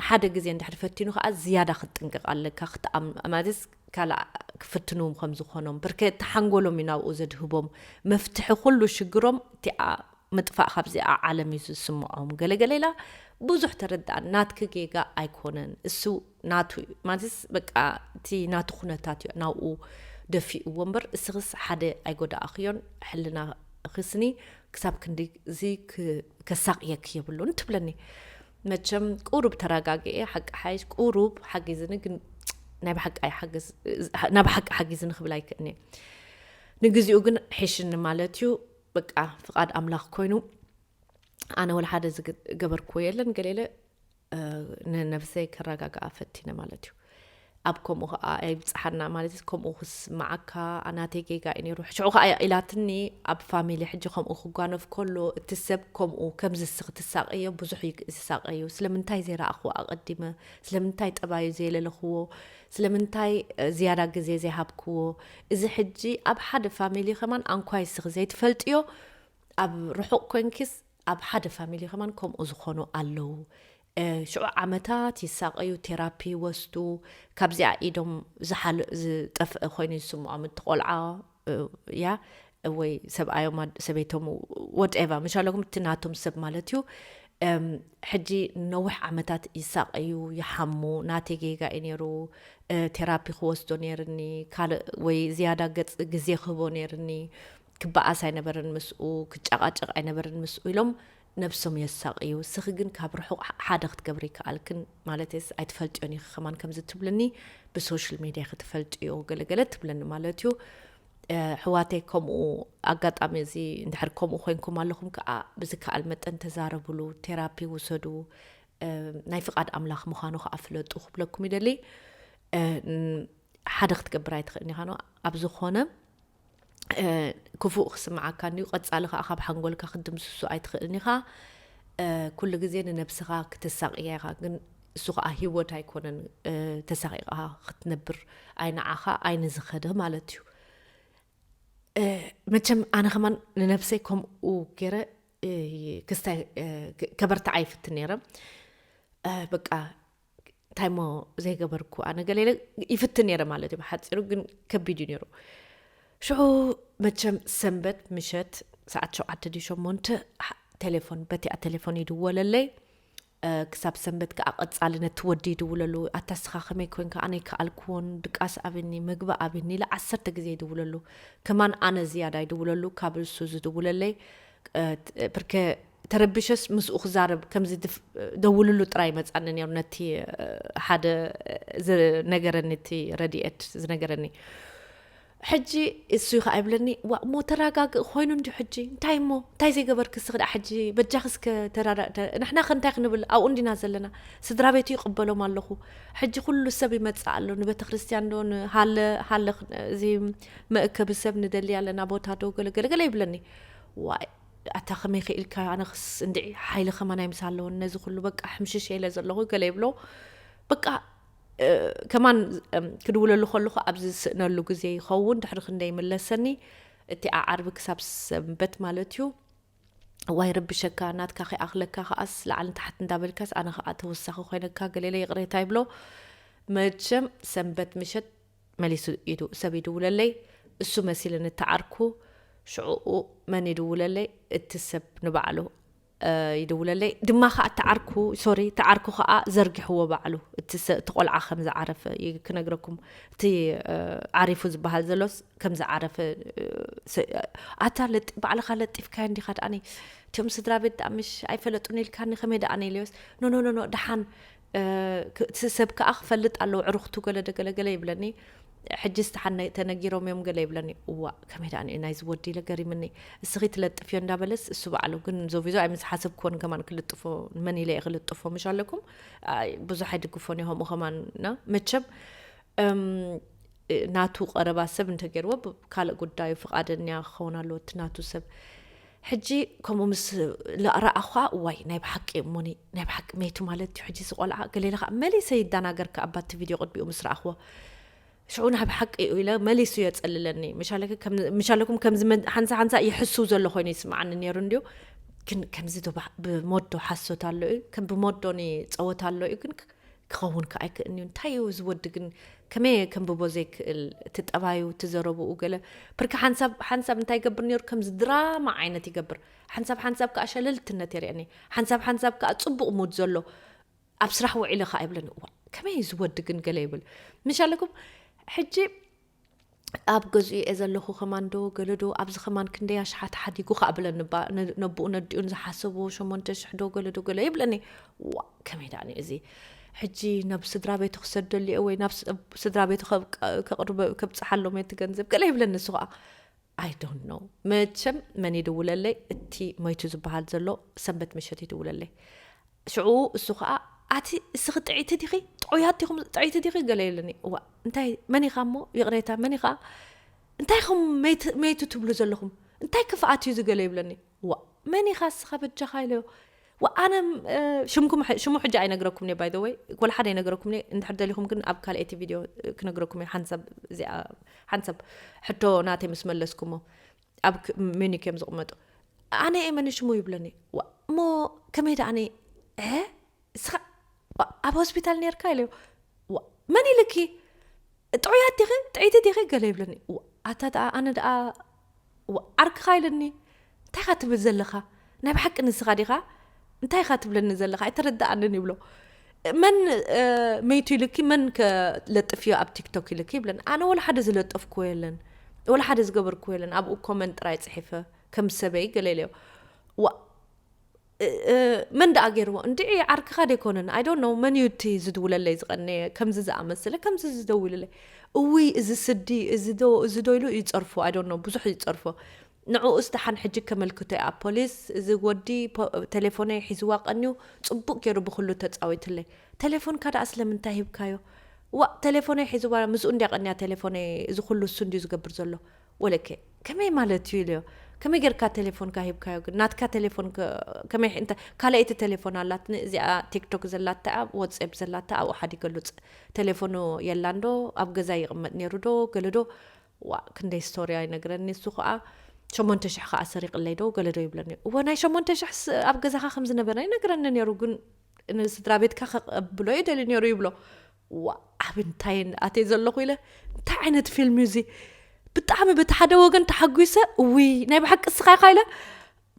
ሓደ ግዜ እንድሕር ፈቲኑ ከዓ ዝያዳ ክትጥንቅቕ ኣለካ ክትኣም ማለት ካልኣ ክፍትንዎም ከም ዝኾኖም ብርከ እቲ ሓንጎሎም እዩ ናብኡ ዘድህቦም መፍትሒ ኩሉ ሽግሮም እቲኣ ምጥፋእ ካብዚኣ ዓለም እዩ ዝስምዖም ገለገለ ኢላ ብዙሕ ተረዳእ ናትኪ ጌጋ ኣይኮነን እሱ ናቱ እዩ ማለትስ በቃ እቲ ናቱ ኩነታት እዩ ናብኡ ደፊእዎ እምበር እስኽስ ሓደ ኣይጎዳእኽዮን ሕልና ኽስኒ ክሳብ ክንዲ እዚ ከሳቅየክ የብሉን ትብለኒ መቸም ቁሩብ ተረጋግኤ ሓቂ ሓይሽ ቁሩብ ሓጊዝኒ ግን ናይ ብሓቂ ኣይሓግዝ ናይ ብሓቂ ሓጊዝኒ ክብል ኣይክእኒ ንግዚኡ ግን ሒሽኒ ማለት እዩ በቃ ፍቃድ ኣምላኽ ኮይኑ ኣነ ወላ ሓደ ዝገበርክዎ የለን ገሌለ ንነብሰይ ከረጋግኣ ፈቲነ ማለት እዩ። ኣብ ከምኡ ከኣ ኣይብጽሓና ማለት ከምኡ ክስምዓካ ናተይ ጌጋ እዩ ነይሩ ሽዑ ከኣ ኢላትኒ ኣብ ፋሚሊ ሕጂ ከምኡ ክጓነፍ ከሎ እቲ ሰብ ከምኡ ከምዝስ ክትሳቀዮ ብዙሕ እዩ ዝሳቀዩ ስለምንታይ ዘይረኣኽዎ ኣቐዲመ ስለምንታይ ጠባዩ ዘየለለኽዎ ስለምንታይ ዝያዳ ግዜ ዘይሃብክዎ እዚ ሕጂ ኣብ ሓደ ፋሚሊ ከማን ኣንኳይ ስኺ ዘይትፈልጥዮ ኣብ ርሑቕ ኮንኪስ ኣብ ሓደ ፋሚሊ ከማን ከምኡ ዝኮኑ ኣለዉ ሽዑ ዓመታት ይሳቀዩ ቴራፒ ይወስዱ ካብዚኣ ኢዶም ዝሓል ዝጠፍእ ኮይኑ ዝስምዖም እቲ ቆልዓ እያ ወይ ሰብኣዮም ሰበይቶም ወድኤቫ መሻለኩም እቲ ናቶም ሰብ ማለት እዩ ሕጂ ነዊሕ ዓመታት ይሳቀዩ ይሓሙ ናተይ ጌጋ እዩ ነይሩ ቴራፒ ክወስዶ ነይርኒ ካልእ ወይ ዝያዳ ገጽ ግዜ ክህቦ ነይርኒ ክበኣስ ኣይነበርን ምስኡ፣ ክጨቓጨቕ ኣይነበርን ምስኡ ኢሎም ነብሶም የሳቕዩ። እስኺ ግን ካብ ርሑቕ ሓደ ክትገብሪ ይከኣልክን፣ ማለተይስ ኣይትፈልጥዮን ኢኺ ከማን ከምዚ ትብልኒ ብሶሽል ሜድያ ኢኺ ትፈልጥዮ ገለ ገለ ትብለኒ ማለትዩ። ሕዋተይ ከምኡ ኣጋጣሚ እዚ እንድሕር ከምኡ ኮይንኩም ኣለኹም ከዓ ብዝከኣል መጠን ተዛረብሉ፣ ቴራፒ ውሰዱ፣ ናይ ፍቓድ ኣምላኽ ምዃኑ ከዓ ፍለጡ ክብለኩም ይደሊ። ሓደ ክትገብር ኣይትኽእልን ኢኻ ኣብ ዝኾነ ክፉእ ክስምዓካ እንድዩ ቀጻሊ ከኣ ካብ ሓንጎልካ ክትድምስሶ ኣይትኽእልን ኢኻ ኩሉ ግዜ ንነብስኻ ክተሳቅያ ኢኻ ግን እሱ ከዓ ሂወት ኣይኮነን ተሳቂቃ ክትነብር ኣይ ንዓኻ ኣይ ንዝኸደ ማለት እዩ መቸም ኣነ ከማን ንነብሰይ ከምኡ ገይረ ክስታይ ከበርትዓ ይፍትን ነይረ በቃ እንታይሞ ዘይገበርኩ ኣነ ገለ ኢለ ይፍትን ነይረ ማለት እዩ ብሓፂሩ ግን ከቢድ እዩ ነይሩ ሽዑ መቸም ሰንበት ምሸት ሰዓት ሸውዓተ ድዩ ሸሞንተ ቴሌፎን በቲኣ ቴሌፎን ይድወለለይ ክሳብ ሰንበት ከዓ ቀፃሊ ነቲ ወዲ ይድውለሉ ኣታ ስኻ ከመይ ኮንካ ኣነ ይከኣልክዎን ድቃስ ኣብኒ ምግቢ ኣብኒ ኢለ ዓሰርተ ግዜ ይድውለሉ ከማን ኣነ ዝያዳ ይድውለሉ ካብ እሱ ዝድውለለይ ብርከ ተረቢሸስ ምስኡ ክዛረብ ከምዚ ደውልሉ ጥራይ መጻኒ ነይሩ ነቲ ሓደ ዝነገረኒ እቲ ረድኤት ዝነገረኒ ሕጂ እሱ ይኸዓ ይብለኒ ዋ እሞ ተረጋግእ ኮይኑ እንዲ ሕጂ እንታይ እሞ እንታይ ዘይገበርክ ስ ክዳ ሕጂ በጃኽ እስከ ተራዳእ ንሕና ከ እንታይ ክንብል ኣብኡ እንዲና ዘለና ስድራ ቤቱ ይቕበሎም ኣለኹ ሕጂ ኩሉ ሰብ ይመጽእ ኣሎ ንቤተ ክርስትያን ዶ ንሃለ ሃለ እዚ መእከቢ ሰብ ንደሊ ኣለና ቦታ ዶ ገለገለገለ ይብለኒ ዋይ ኣታ ከመይ ክኢልካ ኣነክስ እንድዒ ሓይሊ ከማናይ ምስ ኣለወኒ ነዚ ኩሉ በቃ ሕምሽሸ ኢለ ዘለኹ ገለ ይብሎ በቃ ከማን ክድውለሉ ከለኹ ኣብዚ ዝስእነሉ ግዜ ይኸውን ድሕሪ ክንደይ ይምለሰኒ እቲኣ ዓርቢ ክሳብ ሰንበት ማለት እዩ ዋይ ረብሸካ ናትካ ከይኣኽለካ ከዓስ ላዕልን ታሕት እንዳበልካስ ኣነ ከዓ ተወሳኺ ኮይነካ ገሌለ ይቕሬታ ይብሎ መቸም ሰንበት ምሸት መሊሱ ኢዱ ሰብ ይድውለለይ እሱ መሲልኒ ተዓርኩ ሽዑኡ መን ይድውለለይ እቲ ሰብ ንባዕሉ ይድውለለይ ድማ ከኣ ተዓርኩ ሶሪ ተዓርኩ ከኣ ዘርጊሕዎ ባዕሉ እቲ እቲ ቆልዓ ከም ዝዓረፈ ክነግረኩም እቲ ዓሪፉ ዝበሃል ዘሎስ ከም ዝዓረፈ ኣታ ባዕልኻ ለጢፍካዮ እንዲኻ ደኣኒ እቲኦም ስድራ ቤት ደኣ ምሽ ኣይፈለጡን ኢልካኒ ከመይ ደኣኒ ኢልዮስ ኖኖኖኖ ደሓን እቲ ሰብ ከኣ ክፈልጥ ኣለዎ ዕሩኽቱ ገለ ደገለ ገለ ይብለኒ ሕጂ ዝተሓነ ተነጊሮም እዮም ገለ ይብለኒ እዋእ ከመይ ደኣ ንዩ ናይዚ ወዲ ኢለ ገሪምኒ እስኺ ትለጥፍዮ እንዳበለስ እሱ በዓሉ ግን ዞቪዞ ኣይ ምስ ሓሰብክዎን ከማን ክልጥፎ መን ኢለ እየ ክልጥፎ ምሽ ኣለኩም ብዙሕ ኣይድግፎን እየ ከምኡ ከማንና መቸም ናቱ ቀረባ ሰብ እንተገይርዎ ካልእ ጉዳዩ ፍቓደኛ ክኸውን ኣለዎ እቲ ናቱ ሰብ ሕጂ ከምኡ ምስ ርኣኹኻ እዋይ ናይ ብሓቂ እሞኒ ናይ ብሓቂ መይቱ ማለት እዩ ሕጂ እዚ ቆልዓ ገሌለ ከዓ መሊሰ ይደናገር ከዓ ባቲ ቪድዮ ቅድሚኡ ምስ ረኣኽዎ ሽዑ ናይ ብሓቂ እዩ ኢለ መሊሱ የፀልለኒ ምሻለኩም ከምዚ ሓንሳ ሓንሳ ይሕስው ዘሎ ኮይኑ ይስምዓኒ ነይሩ እንድዩ ግን ከምዚ ዶ ብሞዶ ሓሶት ኣሎ እዩ ከም ብሞዶ ጸወታ ኣሎ እዩ ግን ክኸውን ከኣ ኣይክእልንዩ እንታይ እዩ እዚ ወዲ ግን ከመይ እየ ከንብቦ ዘይክእል እቲ ጠባዩ እቲ ዘረብኡ ገለ ብርኪ ሓንሳብ ሓንሳብ እንታይ ይገብር ነይሩ ከምዚ ድራማ ዓይነት ይገብር ሓንሳብ ሓንሳብ ከዓ ሸለልትነት የርእየኒ ሓንሳብ ሓንሳብ ከዓ ፅቡቕ ሙድ ዘሎ ኣብ ስራሕ ውዒለ ከዓ ይብለኒ እዋ ከመይ እዚ ወዲ ግን ገለ ይብል ምሻለኩም ሕጂ ኣብ ገዝኡ'የ ዘለኹ ከማን ዶ ገለ ዶ ኣብዚ ከማን ክንደይ ኣሽሓት ሓዲጉ ከኣ ብለኒ እባ ነቡኡ ነዲኡን ዝሓሰብዎ ሸሞንተ ሽሕ ዶ ገለ ዶ ገለ ይብለኒ ዋ ከመይ ደኣኒ እዚ ሕጂ ናብ ስድራ ቤቱ ክሰደሉ እየ ወይ ናብ ስድራ ቤቱ ከብጽሓሎም እየ ትገንዘብ ገለ ይብለኒ እሱ ከኣ I don't know መቸም መን ይድውለለይ እቲ መይቱ ዝበሃል ዘሎ ሰንበት ምሸት ይድውለለይ ሽዑ እሱ ከዓ ኣቲ እስኺ ጥዒቲ ዲኺ ጥዑያት ዲኹም ጥዒቲ ዲኺ ገለ ኢሉኒ እዋ እንታይ መን ኢኻ እሞ ይቕሬታ መን ኢኻ እንታይ ኹም መይቱ ትብሉ ዘለኹም እንታይ ክፍኣት እዩ ዝገለ ይብለኒ ዋእ መን ኢኻ እስኻ በጃኻ ኢለዮ ዋእ ኣነ ሽምኩም ሽሙ ሕጂ ኣይነግረኩም እየ ባይ ዘ ወይ ወላ ሓደ ኣይነገረኩም እየ እንድሕር ደሊኹም ግን ኣብ ካልኣይቲ ቪድዮ ክነግረኩም እየ ሓንቲ ሰብ እዚኣ ሓንቲ ሰብ ሕቶ ናተይ ምስ መለስኩሞ ኣብ ሚኒክ እዮም ዝቕመጡ ኣነ እየ መን ሽሙ ይብለኒ እሞ ከመይ ደኣ ኣነ እስኻ ኣብ ሆስፒታል ነርካ ኢለዮ መን ኢልኪ ጥዑያት ዲኺ ጥዒቲ ዲኺ ገለ ይብለኒ ኣታ ደኣ ኣነ ደኣ ዓርክኻ ኢለኒ እንታይ ኻ ትብል ዘለኻ ናይ ብሓቂ ንስኻ ዲኻ እንታይ ኻ ትብለኒ ዘለኻ ኣይተረዳኣንን ይብሎ መን መይቱ ኢልኪ መን ለጥፍዮ ኣብ ቲክቶክ ኢልኪ ይብለኒ ኣነ ወላ ሓደ ዝለጠፍክዎ የለን ወላ ሓደ ዝገበርክዎ የለን ኣብኡ ኮመን ጥራይ ፅሒፈ ከም ሰበይ ገለ ኢለዮ መን ደኣ ጌርዎ እንድዒ ዓርክኻ ዶ ኣይኮነን ኣይ ዶንት ኖው መንዩ እቲ ዝድውለለይ ዝቐነየ ከምዚ ዝኣመስለ ከምዚ ዝደውልለይ እውይ እዚ ስዲ እዚ ዶ እዚ ዶ ኢሉ ይጸርፎ ኣይ ዶንት ኖው ብዙሕ ይጸርፎ ንዕኡስ ደሓን ሕጂ ከመልክቶ'የ ኣብ ፖሊስ እዚ ወዲ ቴሌፎነይ ሒዝዋ ቀንዩ ጽቡቕ ጌሩ ብኹሉ ተጻዊቱለይ ቴሌፎንካ ደኣ ስለምንታይ ሂብካዮ ዋእ ቴሌፎነይ ሒዝዋ ምስኡ እንድያ ቀንያ ቴሌፎነይ እዚ ኩሉ እሱ እንድዩ ዝገብር ዘሎ ወለከ ከመይ ማለት እዩ ኢለዮ ከመይ ጌርካ ቴሌፎንካ ሂብካዮ ግን ናትካ ቴሌፎን ከመይ እንተ ካልኣይቲ ቴሌፎን ኣላትኒ እዚኣ ቲክቶክ ዘላታ ወትሴፕ ዘላታ ኣብኡ ሓዲገሉ ቴሌፎኑ የላን ዶ ኣብ ገዛ ይቕመጥ ነይሩ ዶ ገለ ዶ ዋእ ክንደይ ስቶርያ ይነግረኒ እሱ ከዓ ሸሞንተ ሽሕ ከዓ ሰሪቕለይ ዶ ገለ ዶ ይብለኒ እወ ናይ ሸሞንተ ሽሕስ ኣብ ገዛኻ ከም ዝነበረ ይነግረኒ ነይሩ ግን ንስድራ ቤትካ ከቐብሎ ይደልዩ ነይሩ ይብሎ ዋእ ኣብ እንታይ እን ኣትየ ዘለኹ ኢለ እንታይ ዓይነት ፊልም እዩ እዚ ብጣዕሚ በቲ ሓደ ወገን ተሓጒሰ እውይ ናይ ብሓቂ እስኻ ኢኻ ኢለ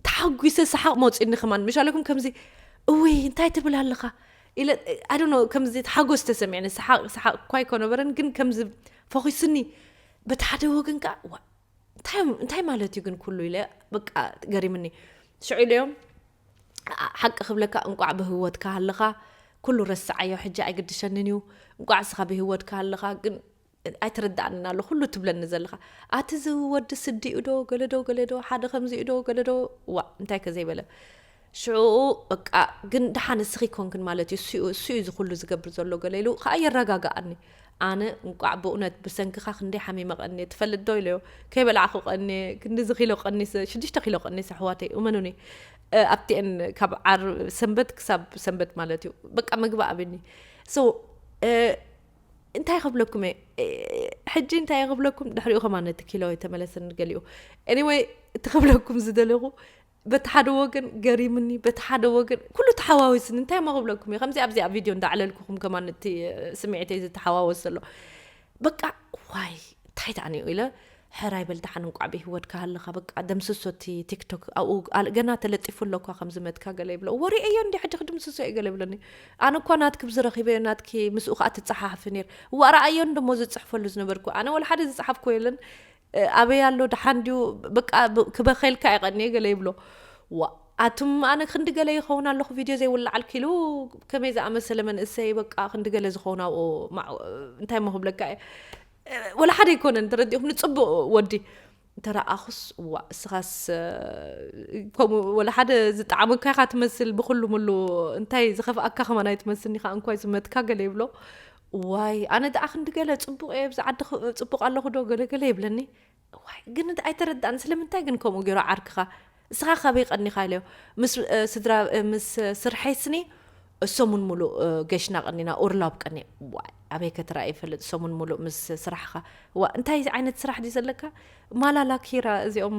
ተሓጒሰ ሰሓቕ መውፅኒ ከማን መሻለኩም ከምዚ እውይ እንታይ ትብል ኣለኻ ኢለ ኣዶኖ ከምዚ ሓጎስ ተሰሚዕኒ ሰሓቕ ሰሓቕ እኳ ኣይኮነበረን ግን ከምዚ ፈኺስኒ በቲ ሓደ ወገን ከዓ እንታይ ማለት እዩ ግን ኩሉ ኢለ በቃ ገሪምኒ ሽዑ ኢለዮም ሓቂ ክብለካ እንቋዕ ብህወትካ ሃለኻ ኩሉ ረስዓዮ ሕጂ ኣይግድሸንን እዩ እንቋዕ ስኻ ብህወትካ ሃለኻ ግን ኣይተረዳእንን ኣሎ ኩሉ ትብለኒ ዘለኻ ኣቲ እዚ ወዲ ስዲኡ ዶ ገለዶ ገለዶ ሓደ ከምዚኡ ዶ ገለዶ ዋ እንታይ ከዘይበለ ሽዑኡ በቃ ግን ደሓን ንስኺ ኮንክን ማለት እዩ እሱኡ እሱኡ እዚ ኩሉ ዝገብር ዘሎ ገለ ኢሉ ከኣ የረጋግኣኒ ኣነ እንቋዕ ብእውነት ብሰንክኻ ክንደይ ሓሚመ ቀንየ ትፈልጥ ዶ ኢለዮ ከይበላዕኹ ቀንየ ክንድዚ ኪሎ ቀኒሰ ሽዱሽተ ኪሎ ቀኒሰ ኣሕዋተይ እመኑኒ ኣብቲኤን ካብ ዓር ሰንበት ክሳብ ሰንበት ማለት እዩ በቃ ምግቢ ኣብኒ ሶ እንታይ ክብለኩም እየ ሕጂ እንታይ ክብለኩም ድሕሪኡ ከማ ነቲ ኪሎ የተመለሰ ንገሊኡ ኤኒወይ እቲ ክብለኩም ዝደለኹ በቲ ሓደ ወገን ገሪምኒ በቲ ሓደ ወገን ኩሉ ተሓዋዊስኒ እንታይ እሞ ክብለኩም እዩ ከምዚ ኣብዚኣ ቪድዮ እንዳዕለልኩኹም ከማን እቲ ስምዒተይ ዝተሓዋወስ ዘሎ በቃ ዋይ እንታይ ደኣ ኒኡ ኢለ ሕራይ በል ደሓን እንቋዕ ብሂወትካ ሃለኻ በቃ ደምስሶ እቲ ቲክቶክ ኣብኡ ገና ተለጢፉ ኣለኳ ከም ዝመትካ ገለ ይብሎ ወሪኤዮ እንዲ ሕጂ ክድምስሶ እዩ ገለ ይብለኒ ኣነ እኳ ናትኪ ብዝረኺበዮ ናትኪ ምስኡ ከዓ ትፀሓሓፊ ነይር ዋእ ረኣዮ እንደሞ ዝፅሕፈሉ ዝነበርኩ ኣነ ወላ ሓደ ዝፀሓፍኮ የለን ኣበይ ኣሎ ደሓን ድዩ በቃ ክበከልካ ይቀንየ ገለ ይብሎ ዋ ኣቱም ኣነ ክንዲ ገለ ይኸውን ኣለኹ ቪድዮ ዘይውላዓል ክሉ ከመይ ዝኣመሰለ መንእሰይ በቃ ክንዲ ገለ ዝኸውን ኣብኡ እንታይ ሞ ክብለካ እየ ወላ ሓደ ኣይኮነን ተረዲኹም ንፅቡቅ ወዲ እንተረኣኹስ እዋ እስኻስ ከምኡ ወላ ሓደ ዝጠዓመካ ኢኻ ትመስል ብኩሉ ምሉ እንታይ ዝኸፍኣካ ከማን ኣይትመስልኒ ኢኻ እንኳይ ዝመትካ ገለ ይብሎ እዋይ ኣነ ደኣ ክንዲ ገለ ጽቡቕ እየ ኣብዚ ዓዲ ጽቡቕ ኣለኹ ዶ ገለ ገለ ይብለኒ እዋይ ግን ኣይተረዳእን ስለምንታይ ግን ከምኡ ገይሩ ዓርክኻ እስኻ ካበይ ቀኒኻ ኢለዮ ምስ ስድራ ምስ ስርሐይ ስኒ ሰሙን ሙሉእ ገሽና ቀኒና ኡርላብ ቀኒ ዋይ ኣበይ ከተራእ ይፈልጥ ሰሙን ሙሉእ ምስ ስራሕኻ ዋ እንታይ ዓይነት ስራሕ ድዩ ዘለካ ማላላ ኪራ እዚኦም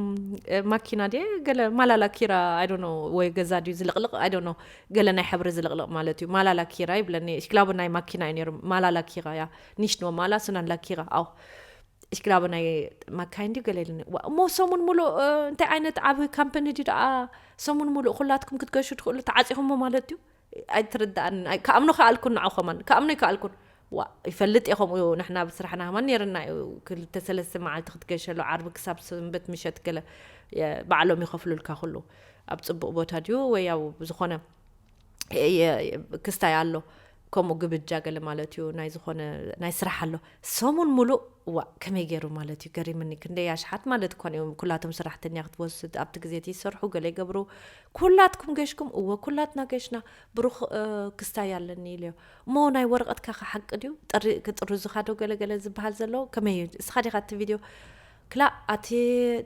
ማኪና ድ ገለ ማላላ ኪራ ኣይዶኖ ወይ ገዛ ድዩ ዝልቕልቕ ኣይዶኖ ገለ ናይ ሕብሪ ዝልቕልቕ ማለት እዩ ማላላ ኪራ ይብለኒ እሽክላቦ ናይ ማኪና እዩ ነይሩ ማላላ ኪራ ያ ኒሽኖ ማላ ስናላ ኪራ ኣው እሽክላቦ ናይ ማካይን ድዩ ገለ ኢልኒ እሞ ሰሙን ሙሉእ እንታይ ዓይነት ዓብ ካምፐኒ ድዩ ደኣ ሰሙን ሙሉእ ኩላትኩም ክትገሹ ትኽእሉ ተዓፂኹሞ ማለት እዩ ኣይትርዳኣንን ኣይ ክኣምኖ ከኣልኩን ንዑ ከማን ክኣምኖ ኣይከኣልኩን ዋእ ይፈልጥ እየ ከምኡ ንሕና ብ ስራሕና ከማን ነይርና እዩ ክልተ ሰለስተ መዓልቲ ክትገሸሉ ዓርቢ ክሳብ ሰንበት ምሸት ገለ ባዕሎም ይኸፍሉልካ ኩሉ ኣብ ጽቡቅ ቦታ ድዩ ወይ ኣብ ዝኾነ ክስታይ ኣሎ ከምኡ ግብጃ ገለ ማለት እዩ ናይ ዝኾነ ናይ ስራሕ ኣሎ ሰሙን ሙሉእ ዋእ ከመይ ገይሩ ማለት እዩ ገሪምኒ ክንደይ ኣሽሓት ማለት እኳ እዮም ኩላቶም ሰራሕተኛ ክትወስድ ኣብቲ ግዜ እቲ ይሰርሑ ገለ ይገብሩ ኩላትኩም ገሽኩም እወ ኩላትና ገሽና ብሩኽ ክስታይ ኣለኒ ኢሉዮ እሞ ናይ ወረቐትካኸ ሓቂ ድዩ ጥሪ ክጥርዙኻዶ ገለገለ ዝበሃል ዘሎ ከመይ እዩ እስኻ ዲኻ እቲ ቪድዮ ክላእ ኣቲ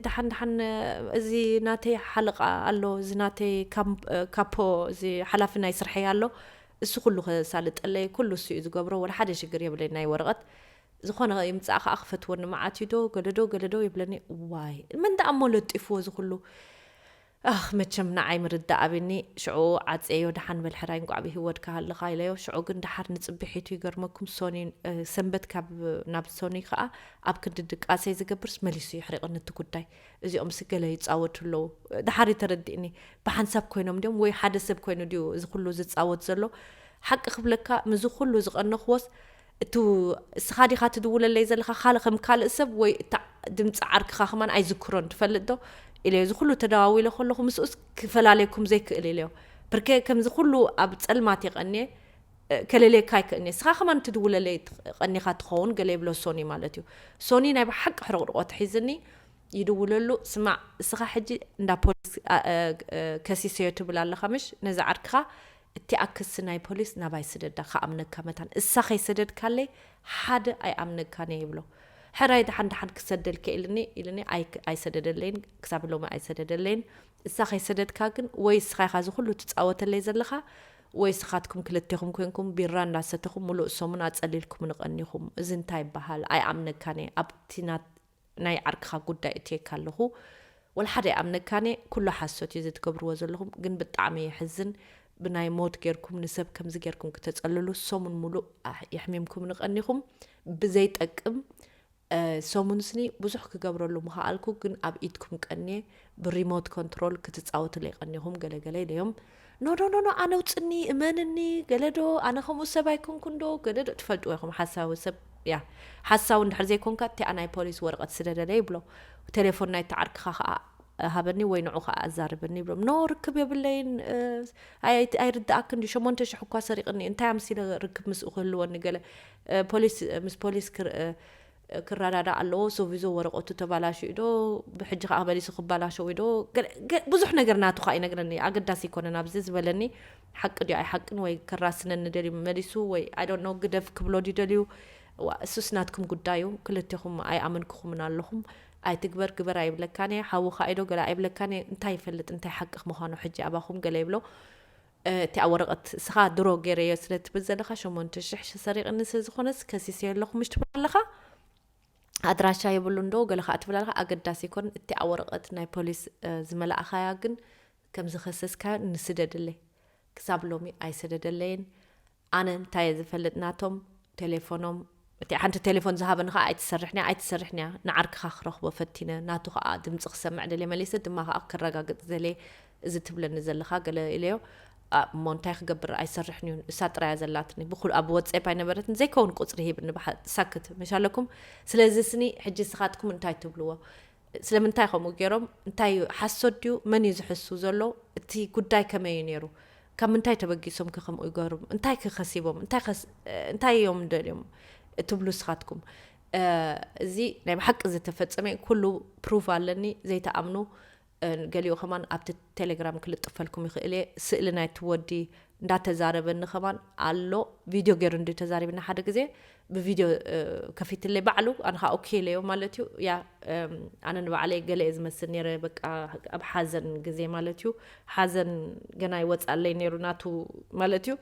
ደሓን ደሓን እዚ ናተይ ሓለቓ ኣሎ እዚ ናተይ ካፖ እዚ ሓላፊ ናይ ስርሐይ ኣሎ እሱ ኩሉ ክሳልጠለይ ኩሉ እሱ እዩ ዝገብሮ ወላ ሓደ ሽግር የብለይ ናይ ወረቐት ዝኾነ ይምፃእ ከዓ ክፈትወኒ መዓት እዩ ዶ ገለዶ ገለዶ ይብለኒ ዋይ መን ደኣ እሞ ለጢፍዎ ዝኩሉ ኣኽ መቸም ንዓይ ምርዳእ ኣብኒ ሽዑ ዓጽየዮ ደሓን በል ሕራይ እንቋዕ ብሂወትካ ሃለኻ ኢለዮ ሽዑ ግን ደሓር ንጽብሒቱ ይገርመኩም ሶኒ ሰንበት ካብ ናብ ሶኒ ከኣ ኣብ ክንዲ ድቃሰይ ዝገብርስ መሊሱ የሕሪቕኒ እቲ ጉዳይ እዚኦምሲ ገለ ይጻወቱ ኣለዉ ደሓር እዩ ተረዲእኒ ብሓንሳብ ኮይኖም ድዮም ወይ ሓደ ሰብ ኮይኑ ድዩ እዚ ኩሉ ዝጻወት ዘሎ ሓቂ ክብለካ ምዚ ኩሉ ዝቐነኽዎስ እቱ እስኻ ዲኻ ትድውለለይ ዘለኻ ካል ከም ካልእ ሰብ ወይ እታ ድምፂ ዓርክኻ ከማን ኣይዝክሮን ትፈልጥ ዶ ኢለዮ እዚ ኩሉ ተደዋዊለ ከለኹ ምስኡስ ክፈላለየኩም ዘይክእል ኢለዮ ብርከ ከምዚ ኩሉ ኣብ ፀልማት የቀንየ ከለልየካ ኣይክእልኒ ንስኻ ከማን ትድውለለይ ቀኒኻ ትኸውን ገለ ይብሎ ሶኒ ማለት እዩ ሶኒ ናይ ብሓቂ ሕርቕርቆ ትሒዝኒ ይድውለሉ ስማዕ እስኻ ሕጂ እንዳ ፖሊስ ከሲሰዮ ትብል ኣለኻ ምሽ ነዚ ዓርክኻ እቲኣ ክሲ ናይ ፖሊስ ናባይ ስደዳ ክኣምነካ መታን እሳ ከይሰደድካለይ ሓደ ኣይኣምነካን እየ ይብሎ ሕራይ ደሓን ደሓን ክሰደልኪ ኢልኒ ኢልኒ ኣይሰደደለይን ክሳብ ሎሚ ኣይሰደደለይን እሳ ከይሰደድካ ግን ወይ እስኻ ኢኻ እዚ ኩሉ ትጻወተለይ ዘለኻ ወይ እስኻትኩም ክልቴኹም ኮንኩም ቢራ እንዳሰተኹም ሙሉእ ሰሙን ኣጸሊልኩምኒ ቀኒኹም እዚ እንታይ ይበሃል ኣይኣምነካን እየ ኣብቲ ናት ናይ ዓርክኻ ጉዳይ እትየካ ኣለኹ ወላ ሓደ ይኣምነካንየ ኩሉ ሓሶት እዩ ዘትገብርዎ ዘለኹም ግን ብጣዕሚ የሕዝን ብናይ ሞት ጌርኩም ንሰብ ከምዚ ጌርኩም ክተጸልሉ ሰሙን ሙሉእ የሕሚምኩምኒ ቀኒኹም ብዘይ ጠቅም ሰሙን ስኒ ብዙሕ ክገብረሉ ምኸኣልኩ ግን ኣብ ኢድኩም ቀንየ ብሪሞት ኮንትሮል ክትጻወትለይ ቀኒኹም ገለገለ ኢለዮም ኖኖኖኖ ኣነውፅኒ እመንኒ ገለዶ ኣነ ከምኡ ሰብ ኣይኮንኩንዶ ገለዶ ትፈልጥዎ ኢኹም ሓሳዊ ሰብ ያ ሓሳዊ እንድሕር ዘይኮንካ እቲኣ ናይ ፖሊስ ወረቐት ስደደለይ ይብሎ ቴሌፎን ናይቲ ዓርክኻ ከዓ ሃበኒ ወይ ንዑ ከዓ ኣዛርበኒ ይብሎም ኖ ርክብ የብለይን ኣይርዳእክን ድዩ ሸሞንተ ሽሕ እኳ ሰሪቕኒ እንታይ ኣምሲለ ርክብ ምስኡ ክህልወኒ ገለ ፖሊስ ምስ ፖሊስ ክረዳዳእ ኣለዎ ሶቪዞ ወረቀቱ ተባላሽዩ ዶ ብሕጂ ከኣ መሊሱ ክባላሸው ዶ ብዙሕ ነገር ናቱ ከኣ ይነግረኒ ኣገዳሲ ኣይኮነን ኣብዚ ዝበለኒ ሓቂ ድዩ ኣይሓቅን ወይ ክራስነኒ ደልዩ መሊሱ ወይ ኣይ ዶንት ኖ ግደፍ ክብሎ ድዩ ደልዩ ዋ እሱስ ናትኩም ጉዳይ እዩ ክልቴኹም ኣይኣመንኩኹምን ኣለኹም ኣይትግበር ግበር ኣይብለካን እየ ሓውኻ ኢዶ ገለ ኣይብለካን እየ እንታይ ይፈልጥ እንታይ ሓቂ ምዃኑ ሕጂ ኣባኹም ገለ ይብሎ እቲ ኣብ ወረቀት እስኻ ድሮ ገይረዮ ስለ ትብል ዘለኻ ሸሞንተ ሽሕ ሰሪቅኒ ስለ ዝኾነስ ከሲሰዮ ኣለኹ ምሽ ትብል ኣለኻ ኣድራሻ የብሉን ዶ ገለ ከኣ ትብል ኣለኻ ኣገዳሲ ኣይኮነን እቲ ኣብ ወረቀት ናይ ፖሊስ ዝመላእኻያ ግን ከም ዝኸሰስካዮ ንስደድለይ ክሳብ ሎሚ ኣይሰደደለይን ኣነ እንታይ እየ ዝፈልጥ ናቶም ቴሌፎኖም እቲኣ ሓንቲ ቴሌፎን ዝሃበኒ ከኣ ኣይትሰርሕን እያ ኣይትሰርሕን እያ ንዓርክኻ ክረኽቦ ፈቲነ ናቱ ከኣ ድምጺ ክሰምዕ ደልየ መሊሰ ድማ ከኣ ከረጋግጽ ደልየ እዚ ትብለኒ ዘለኻ ገለ ኢለዮ ኣብ እሞ እንታይ ክገብር ኣይሰርሕን እዩ እሳ ጥራያ ዘላትኒ ብኩል ኣብ ወጼፕ ኣይነበረትን ዘይከውን ቁጽሪ ሂብኒ ብሓ ሳክት መሻለኩም ስለዚ ስኒ ሕጂ ስኻትኩም እንታይ ትብልዎ ስለምንታይ ከምኡ ጌሮም? እንታይ እዩ? ሓሶት ድዩ? መን እዩ ዝሕሱ ዘሎ? እቲ ጉዳይ ከመይ እዩ ነይሩ? ካብ ምንታይ ተበጊሶም ከ ከምኡ ይገብሩ? እንታይ ከ ከሲቦም? እንታይ እዮም ደልዮም እትብሉ ንስኻትኩም? እዚ ናይ ብሓቂ ዝተፈጸመ ኩሉ ፕሩቭ ኣለኒ ዘይተኣምኑ ገሊኡ ከማን ኣብቲ ቴሌግራም ክልጥፈልኩም ይኽእል እየ ስእሊ ናይቲ ወዲ እንዳተዛረበኒ ከማን ኣሎ ቪድዮ ገይሩ እንድዩ ተዛሪብና ሓደ ግዜ ብቪድዮ ከፊትለይ ባዕሉ ኣነ ከዓ ኦኬ ኢለዮ ማለት እዩ ያ ኣነ ንባዕለይ ገለ እየ ዝመስል ነይረ በቃ ኣብ ሓዘን ግዜ ማለት እዩ ሓዘን ገና ይወፅኣለይ ነይሩ ናቱ ማለት እዩ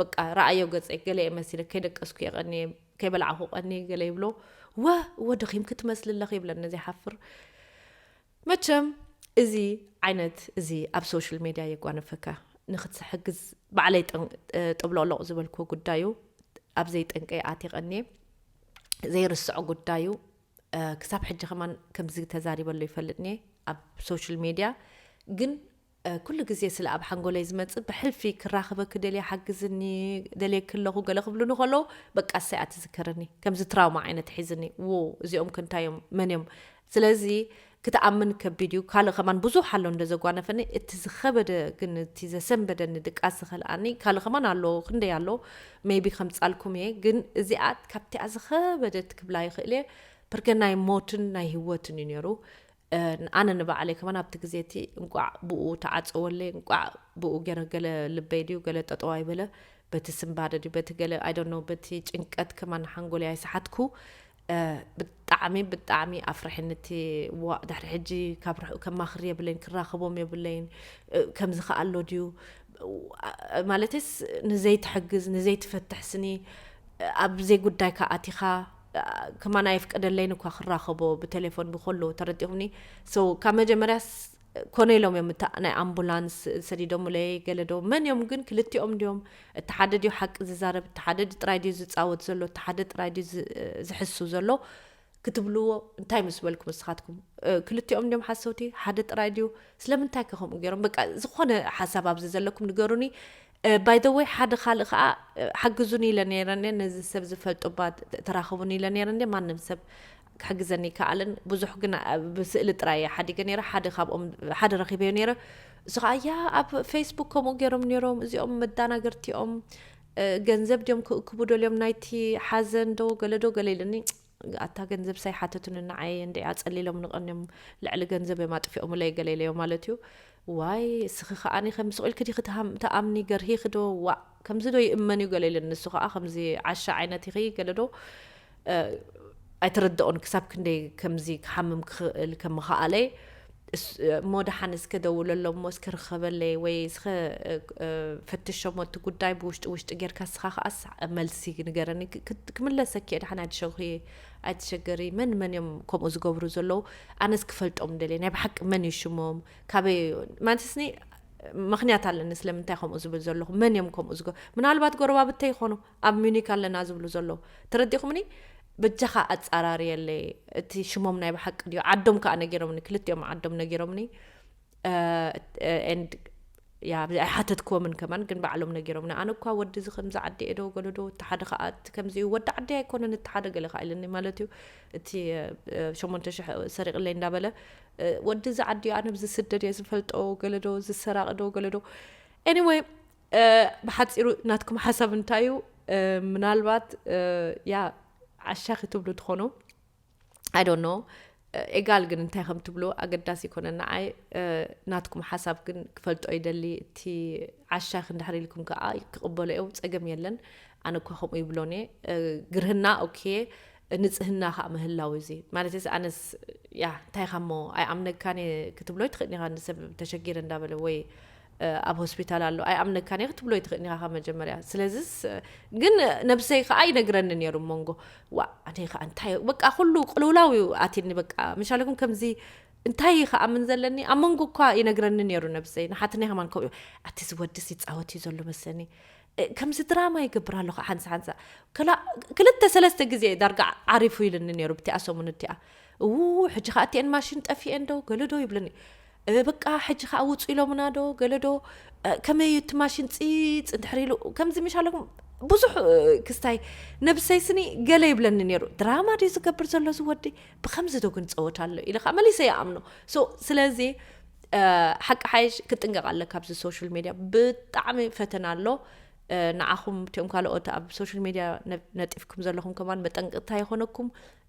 በቃ ረኣዮ ገፀይ ገለ እየ መሲለ ከይደቀስኩ እየ ቀኒየ ከይበላዕኹ ቀኒየ ገለ ይብሎ ወ ወ ደኺምኪ ትመስሊ ኣለኺ ይብለኒ ዘይሓፍር መቸም እዚ ዓይነት እዚ ኣብ ሶሽል ሜድያ የጓነፈካ ንክትሕግዝ ባዕለይ ጠብሎቅሎቅ ዝበልክዎ ጉዳዩ ኣብ ዘይጠንቀይ ኣትየ ቀንየ ዘይርስዖ ጉዳዩ ክሳብ ሕጂ ከማን ከምዚ ተዛሪበሉ ይፈልጥኒ ኣብ ሶሽል ሜድያ ግን ኩሉ ግዜ ስለ ኣብ ሓንጎለይ ዝመጽእ ብሕልፊ ክራኽበኪ ደልየ ሓግዝኒ ደልየኪ ኣለኹ ገለ ክብሉኒ ከለዉ በቃ እሰያ ትዝከረኒ ከምዚ ትራውማ ዓይነት ሒዝኒ ዉው እዚኦምከ እንታይ እዮም መን እዮም ስለዚ ክትኣምን ከቢድ እዩ ካልእ ከማን ብዙሕ ኣሎ እንደ ዘጓነፈኒ እቲ ዝኸበደ ግን እቲ ዘሰንበደኒ ድቃስ ዝኸልኣኒ ካልእ ከማን ኣሎ ክንደይ ኣሎ ሜቢ ከምጻልኩም እየ ግን እዚኣ ካብቲኣ ዝኸበደት ክብላ ይኽእል እየ ፕርከ ናይ ሞትን ናይ ህይወትን እዩ ነይሩ ኣነ ንባዕለይ ከማን ኣብቲ ግዜ እቲ እንቋዕ ብኡ ተዓጸወለይ እንቋዕ ብኡ ገረ ገለ ልበይ ድዩ ገለ ጠጠው ኣይበለ በቲ ስንባደ ድዩ በቲ ገለ ኣይ ዶንት ኖው በቲ ጭንቀት ከማን ሓንጎለይ ኣይሰሓትኩ ብጣዕሚ ብጣዕሚ ኣፍርሕኒ እቲ ዋእ ድሕሪ ሕጂ ካብ ርሑቕ ከማኽር የብለይን ክራኸቦም የብለይን ከምዚ ከኣ ኣሎ ድዩ ማለትስ ንዘይትሕግዝ ንዘይትፈትሕ ስኒ ኣብ ዘይጉዳይካ ኣቲኻ ከማን ኣየፍቀደለይን እኳ ክራኸቦ ብተሌፎን ብኮሉ ተረዲኹምኒ so ካብ መጀመርያስ ኮነ ኢሎም እዮም እታ ናይ ኣምቡላንስ ሰዲዶምለይ ገለ ዶ መን እዮም ግን ክልቲኦም ድዮም እቲ ሓደ ድዩ ሓቂ ዝዛረብ እቲ ሓደ ጥራይ ድዩ ዝፃወት ዘሎ እቲ ሓደ ጥራይ ድዩ ዝሕሱ ዘሎ ክትብልዎ እንታይ ምስ በልኩም ንስኻትኩም ክልቲኦም ድዮም ሓሰውቲ ሓደ ጥራይ ድዩ ስለምንታይ ከ ከምኡ ገይሮም በቃ ዝኾነ ሓሳብ ኣብዚ ዘለኩም ንገሩኒ ባይ ዘ ወይ ሓደ ካልእ ከኣ ሓግዙኒ ኢለ ነይረ እንድየ ነዚ ሰብ ዝፈልጦ እባ ተራኽቡኒ ኢለ ነይረ እንድየ ማንም ሰብ ክሕግዘኒ ኣይከኣለን ብዙሕ ግን ብስእሊ ጥራይ እየ ሓዲገ ነይረ ሓደ ካብኦም ሓደ ረኺበዮ ነይረ እሱ ከዓ ያ ኣብ ፌስቡክ ከምኡ ገይሮም ነይሮም እዚኦም መዳናገርቲ እዮም ገንዘብ ድዮም ክእክቡ ደልዮም ናይቲ ሓዘን ዶ ገለ ዶ ገለ ኢለኒ ኣታ ገንዘብስ ኣይሓተቱንን ንዓይ እየ እንድዒ ኣጸሊሎምኒ ቀንዮም ልዕሊ ገንዘብ እዮም ኣጥፊኦምለይ ገለ ኢለዮ ማለት እዩ ዋይ እስኺ ከዓኒ ከም ስቑኢል ክዲ ክትኣምኒ ገርሂኺ ዶ ዋእ ከምዚ ዶ ይእመን እዩ ገለ ኢሉ ንሱ ከዓ ከምዚ ዓሻ ዓይነት ኢኺ ገለ ዶ ኣይተረድኦን ክሳብ ክንደይ ከምዚ ክሓምም ክኽእል ከም ምኽኣለይ እሞ ደሓን እስከ ደውለሎም እሞ እስከ ርኸበለይ ወይ እስከ ፈትሾ እሞ እቲ ጉዳይ ብውሽጢ ውሽጢ ጌርካ እስኻ ከዓ መልሲ ንገረኒ ክምለሰኪ እየ ደሓን ኣይትሸኺ ኣይትሸገሪ መን መን እዮም ከምኡ ዝገብሩ ዘለዉ ኣነስ ክፈልጦም ደልየ ናይ ብሓቂ መን እዩ ሽሞም ካበይ ማለትስኒ ምክንያት ኣለኒ ስለምንታይ ከምኡ ዝብል ዘለኹ መን እዮም ከምኡ ዝገ ምናልባት ጎረባብተይ ይኾኑ ኣብ ሙኒክ ኣለና ዝብሉ ዘለዉ ተረዲኩምኒ በጃካ ኣጻራርየለይ እቲ ሽሞም ናይ ብሓቂ ድዩ ዓዶም ከኣ ነጊሮምኒ ክልቲኦም ዓዶም ነጊሮምኒ ኤንድ ያ ኣይሓተትክዎምን ከማን ግን ባዕሎም ነጊሮምኒ ኣነ እኳ ወዲ እዚ ከምዚ ዓዲ እየ ዶ ገለዶ እቲ ሓደ ከዓ እቲ ከምዚ እዩ ወዲ ዓዲ ኣይኮነን እቲ ሓደ ገለ ከዓ ኢለኒ ማለት እዩ እቲ ሸሞንተ ሽሕ ሰሪቕለይ እንዳበለ ወዲ እዚ ዓዲ እዩ ኣነ ብዝስደድ እየ ዝፈልጦ ገለዶ ዝሰራቂ ዶ ገለዶ ኤኒወይ ብሓጺሩ ናትኩም ሓሳብ እንታይ እዩ ምናልባት ያ ዓሻ ክትብሉ ትኾኑ ኣይዶኖ ኤጋል ግን እንታይ ከም ትብሉ ኣገዳሲ ይኮነ ንዓይ ናትኩም ሓሳብ ግን ክፈልጦ ይደሊ እቲ ዓሻ ክንድሕሪ ኢልኩም ከዓ ክቕበሎ እዮ ፀገም የለን ኣነ እኳ ከምኡ ይብሎን እየ ግርህና ኦኬ ንጽህና ከኣ ምህላው እዩ እዚ ማለተይስ ኣነስ ያህ እንታይ ኢኻ እሞ ኣይኣምነካን እየ ክትብሎ ኣይትኽእልን ኢኻ ንሰብ ተሸጊረ እንዳበለ ወይ ኣብ ሆስፒታል ኣሎ ኣይኣምነካን እየ ክትብሎ ኣይትኽእልን ኢኻ ካብ መጀመርያ ስለዚስ ግን ነብሰይ ከኣ ይነግረኒ ነይሩ መንጎ ዋ ኣነ ከኣ እንታይ በቃ ኩሉ ቅልውላው እዩ ኣትኒ በቃ ምሻለኩም ከምዚ እንታይ እዩ ከኣምን ዘለኒ ኣብ መንጎ እኳ ይነግረኒ ነይሩ ነብሰይ ንሓትነይ ከማን ከምኡ ኣቲ ዝወድስ ይፃወት እዩ ዘሎ መስለኒ ከምዚ ድራማ ይገብር ኣሎ ከ ሓንሳ ሓንሳ ክላእ ክልተ ሰለስተ ግዜ እዩ ዳርጋ ዓሪፉ ኢልኒ ነይሩ ብቲኣ ሰሙን እቲኣ እዉ ሕጂ ከኣ እቲኤን ማሽን ጠፊኤን ዶ ገለ ዶ ይብለኒ በቃ ሕጂ ከኣ ውጹ ኢሎምና ዶ ገለ ዶ ከመይ እዩ እቲ ማሽን ጺጽ እንድሕር ኢሉ ከምዚ ምሽ ኣለኩም ብዙሕ ክስታይ ነብሰይ ስኒ ገለ ይብለኒ ነይሩ ድራማ ድዩ ዝገብር ዘሎ ዝወዲ ብከምዚ ዶ ግን ጸወት ኣሎ ኢለ ከዓ መሊሰ ይኣምኖ ስለዚ ሓቂ ሓይሽ ክጥንቀቅ ኣለ ካብዚ ሶሻል ሜድያ ብጣዕሚ ፈተና ኣሎ ንዓኹም እቲኦም ካልኦት ኣብ ሶሻል ሜድያ ነጢፍኩም ዘለኹም ከማን መጠንቅቕታ ይኾነኩም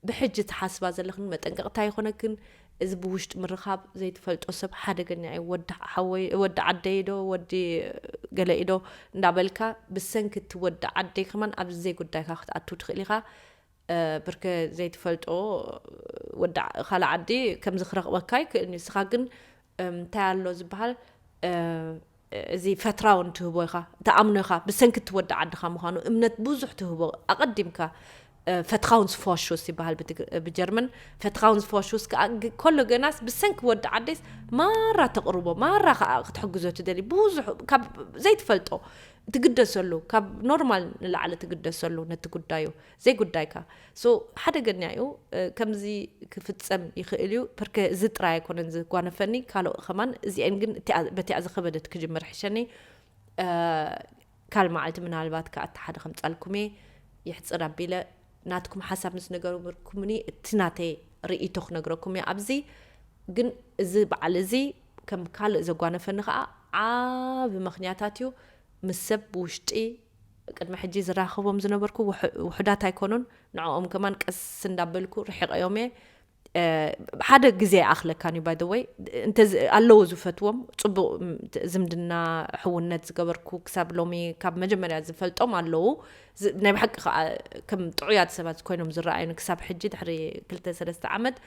ብሕጂ ትሓስባ ዘለኽን መጠንቅቕታ ይኾነክን እዚ ብውሽጢ ምርኻብ ዘይትፈልጦ ሰብ ሓደገኛ እዩ ወዲ ሓወይ ወዲ ዓደይ ዶ ወዲ ገለ ኢዶ እንዳበልካ ብሰንኪ እቲ ወዲ ዓደይ ከማን ኣብዚ ዘይጉዳይካ ክትኣቱ ትኽእል ኢኻ ብርከ ዘይትፈልጦ ወዲ ካልእ ዓዲ ከምዚ ክረኽበካ ይክእል ንስኻ ግን እንታይ ኣሎ ዝበሃል እዚ ፈትራውን ትህቦ ኢኻ ተኣምኖ ኢኻ ብሰንኪ እቲ ወዲ ዓድኻ ምዃኑ እምነት ብዙሕ ትህቦ ኣቐዲምካ ፈትኻውንስ ፎሹስ ይበሃል ብጀርመን ፈትኻውንስ ፎሹስ ከዓ ከሎ ገናስ ብሰንኪ ወዲ ዓደስ ማራ ተቕርቦ ማራ ከዓ ክትሕግዞ ትደሊ ብዙሕ ካብ ዘይትፈልጦ ትግደሰሉ ካብ ኖርማል ንላዕሊ ትግደሰሉ ነቲ ጉዳዩ ዘይጉዳይካ so ሓደገኛ እዩ ከምዚ ክፍጸም ይኽእል እዩ ፐርከ እዚ ጥራይ ኣይኮነን ዝጓነፈኒ ካልኦ ከማን እዚኤን ግን እቲኣ በቲኣ ዝኸበደት ክጅምር ሕሸኒ ካል መዓልቲ ምናልባት ከኣ እቲ ሓደ ከምጻልኩም እየ ይሕጽር ኣቢለ ናትኩም ሓሳብ ምስ ነገርኩምኒ እቲ ናተይ ርእይቶ ክነግረኩም እየ ኣብዚ ግን እዚ በዓል እዚ ከም ካልእ ዘጓነፈኒ ከዓ ዓብ ምክንያታት እዩ ምስ ሰብ ብውሽጢ ቅድሚ ሕጂ ዝራኸቦም ዝነበርኩ ውሑዳት ኣይኮኑን ንዕኦም ከማን ቀስ እንዳበልኩ ርሒቐዮም እየ ሓደ ግዜ ኣይኣኽለካን እዩ ባይ ዘ ወይ እንተ ኣለዉ ዝፈትዎም ፅቡቕ ዝምድና ሕውነት ዝገበርኩ ክሳብ ሎሚ ካብ መጀመርያ ዝፈልጦም ኣለዉ ናይ ብሓቂ ከዓ ከም ጥዑያት ሰባት ኮይኖም ዝረኣዩኒ ክሳብ ሕጂ ድሕሪ ክልተ ሰለስተ ዓመት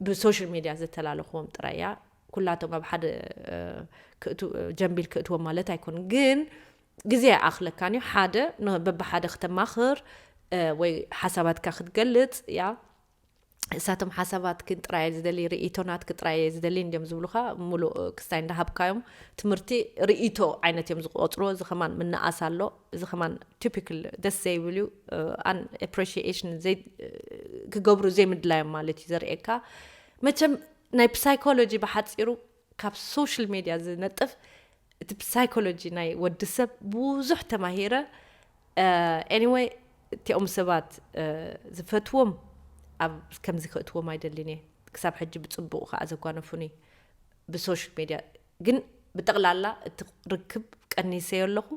ብሶሻል ሚድያ ዘተላለኽዎም ጥራይ እያ ኩላቶም ኣብ ሓደ ጀንቢል ክእትዎም ማለት ኣይኮኑን ግን ግዜ ኣይኣኽለካን እዩ ሓደ በብሓደ ክተማኽር ወይ ሓሳባትካ ክትገልጽ ያ እሳቶም ሓሳባትክን ጥራይ ዝደሊ ርእይቶ ናትክ ጥራይ እየ ዝደሊ እንዲዮም ዝብሉካ ሙሉእ ክስታይ እንዳሃብካዮም ትምህርቲ ርእይቶ ዓይነት እዮም ዝቆፅርዎ እዚ ከማን ምንኣስ ኣሎ እዚ ከማን ቲፒክል ደስ ዘይብል እዩ ኣን ኤፕሪሺኤሽን ክገብሩ ዘይምድላዮም ማለት እዩ ዘርእየካ መቸም ናይ ፕሳይኮሎጂ ብሓፂሩ ካብ ሶሽል ሜድያ ዝነጥፍ እቲ ብሳይኮሎጂ ናይ ወዲ ሰብ ብዙሕ ተማሂረ ኤኒወይ እቲኦም ሰባት ዝፈትዎም ኣብ ከምዚ ክእትዎም ኣይደልን እየ ክሳብ ሕጂ ብፅቡቅ ከዓ ዘጓነፉኒ ብሶሽል ሜድያ ግን ብጠቕላላ እቲ ርክብ ቀኒሰዮ ኣለኹ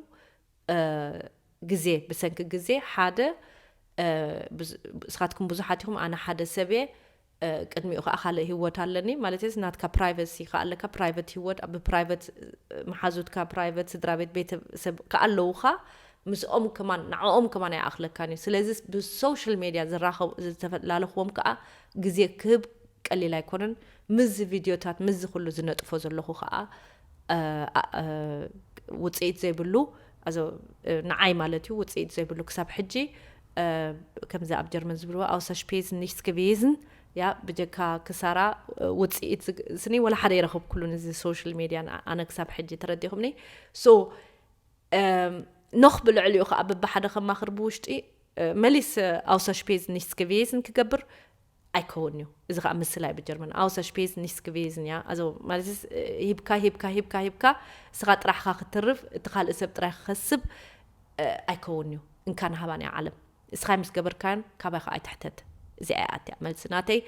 ግዜ ብሰንኪ ግዜ ሓደ እስኻትኩም ብዙሓት ኢኹም ኣነ ሓደ ሰብ እየ ቅድሚኡ ከኣ ካልእ ሂወት ኣለኒ ማለተይስ ናትካ ፕራይቨሲ ከኣ ኣለካ ፕራይቨት ሂወት ኣብ ፕራይቨት መሓዙትካ ፕራይቨት ስድራቤት ቤተ ሰብ ከኣ ኣለውካ ምስኦም ከማን ንዕኦም ከማን ኣይኣኽለካን እዩ ስለዚ ብሶሻል ሜድያ ዝራኸቡ ዝተፈላለኽዎም ከኣ ግዜ ክህብ ቀሊል ኣይኮነን ምስዚ ቪድዮታት ምስዚ ኩሉ ዝነጥፎ ዘለኹ ከኣ ውፅኢት ዘይብሉ ንዓይ ማለት እዩ ውፅኢት ዘይብሉ ክሳብ ሕጂ ከምዚ ኣብ ጀርመን ዝብልዎ ኣውሰር ሽፔዝን ኒሽትስ ገቪዝን ያ ብጀካ ክሳራ ውፅኢት ስኒ ወላ ሓደ ይረኸብኩሉን እዚ ሶሻል ሜድያን ኣነ ክሳብ ሕጂ ተረዲኹምኒ ሶ ኖኽ ብልዕሊኡ ከዓ በብሓደ ከማኽር ብውሽጢ መሊስ ኣውሰር ሽፔዝን ኒሽትስ ገቪዝን ክገብር ኣይከውን እዩ እዚ ከዓ ምስላ እዩ ብጀርመን ኣውሰሽፔዝ ኒስክቬዝን እያ ኣዞ ማለት ሂብካ ሂብካ ሂብካ ሂብካ እስኻ ጥራሕኻ ክትርፍ እቲ ካልእ ሰብ ጥራይ ክኸስብ ኣይከውን እዩ እንካ ንሃባን እያ ዓለም እስኻ ምስ ገበርካን ካባይ ከዓ ኣይትሕተት እዚኣ እያ ኣትያ መልሲ ናተይ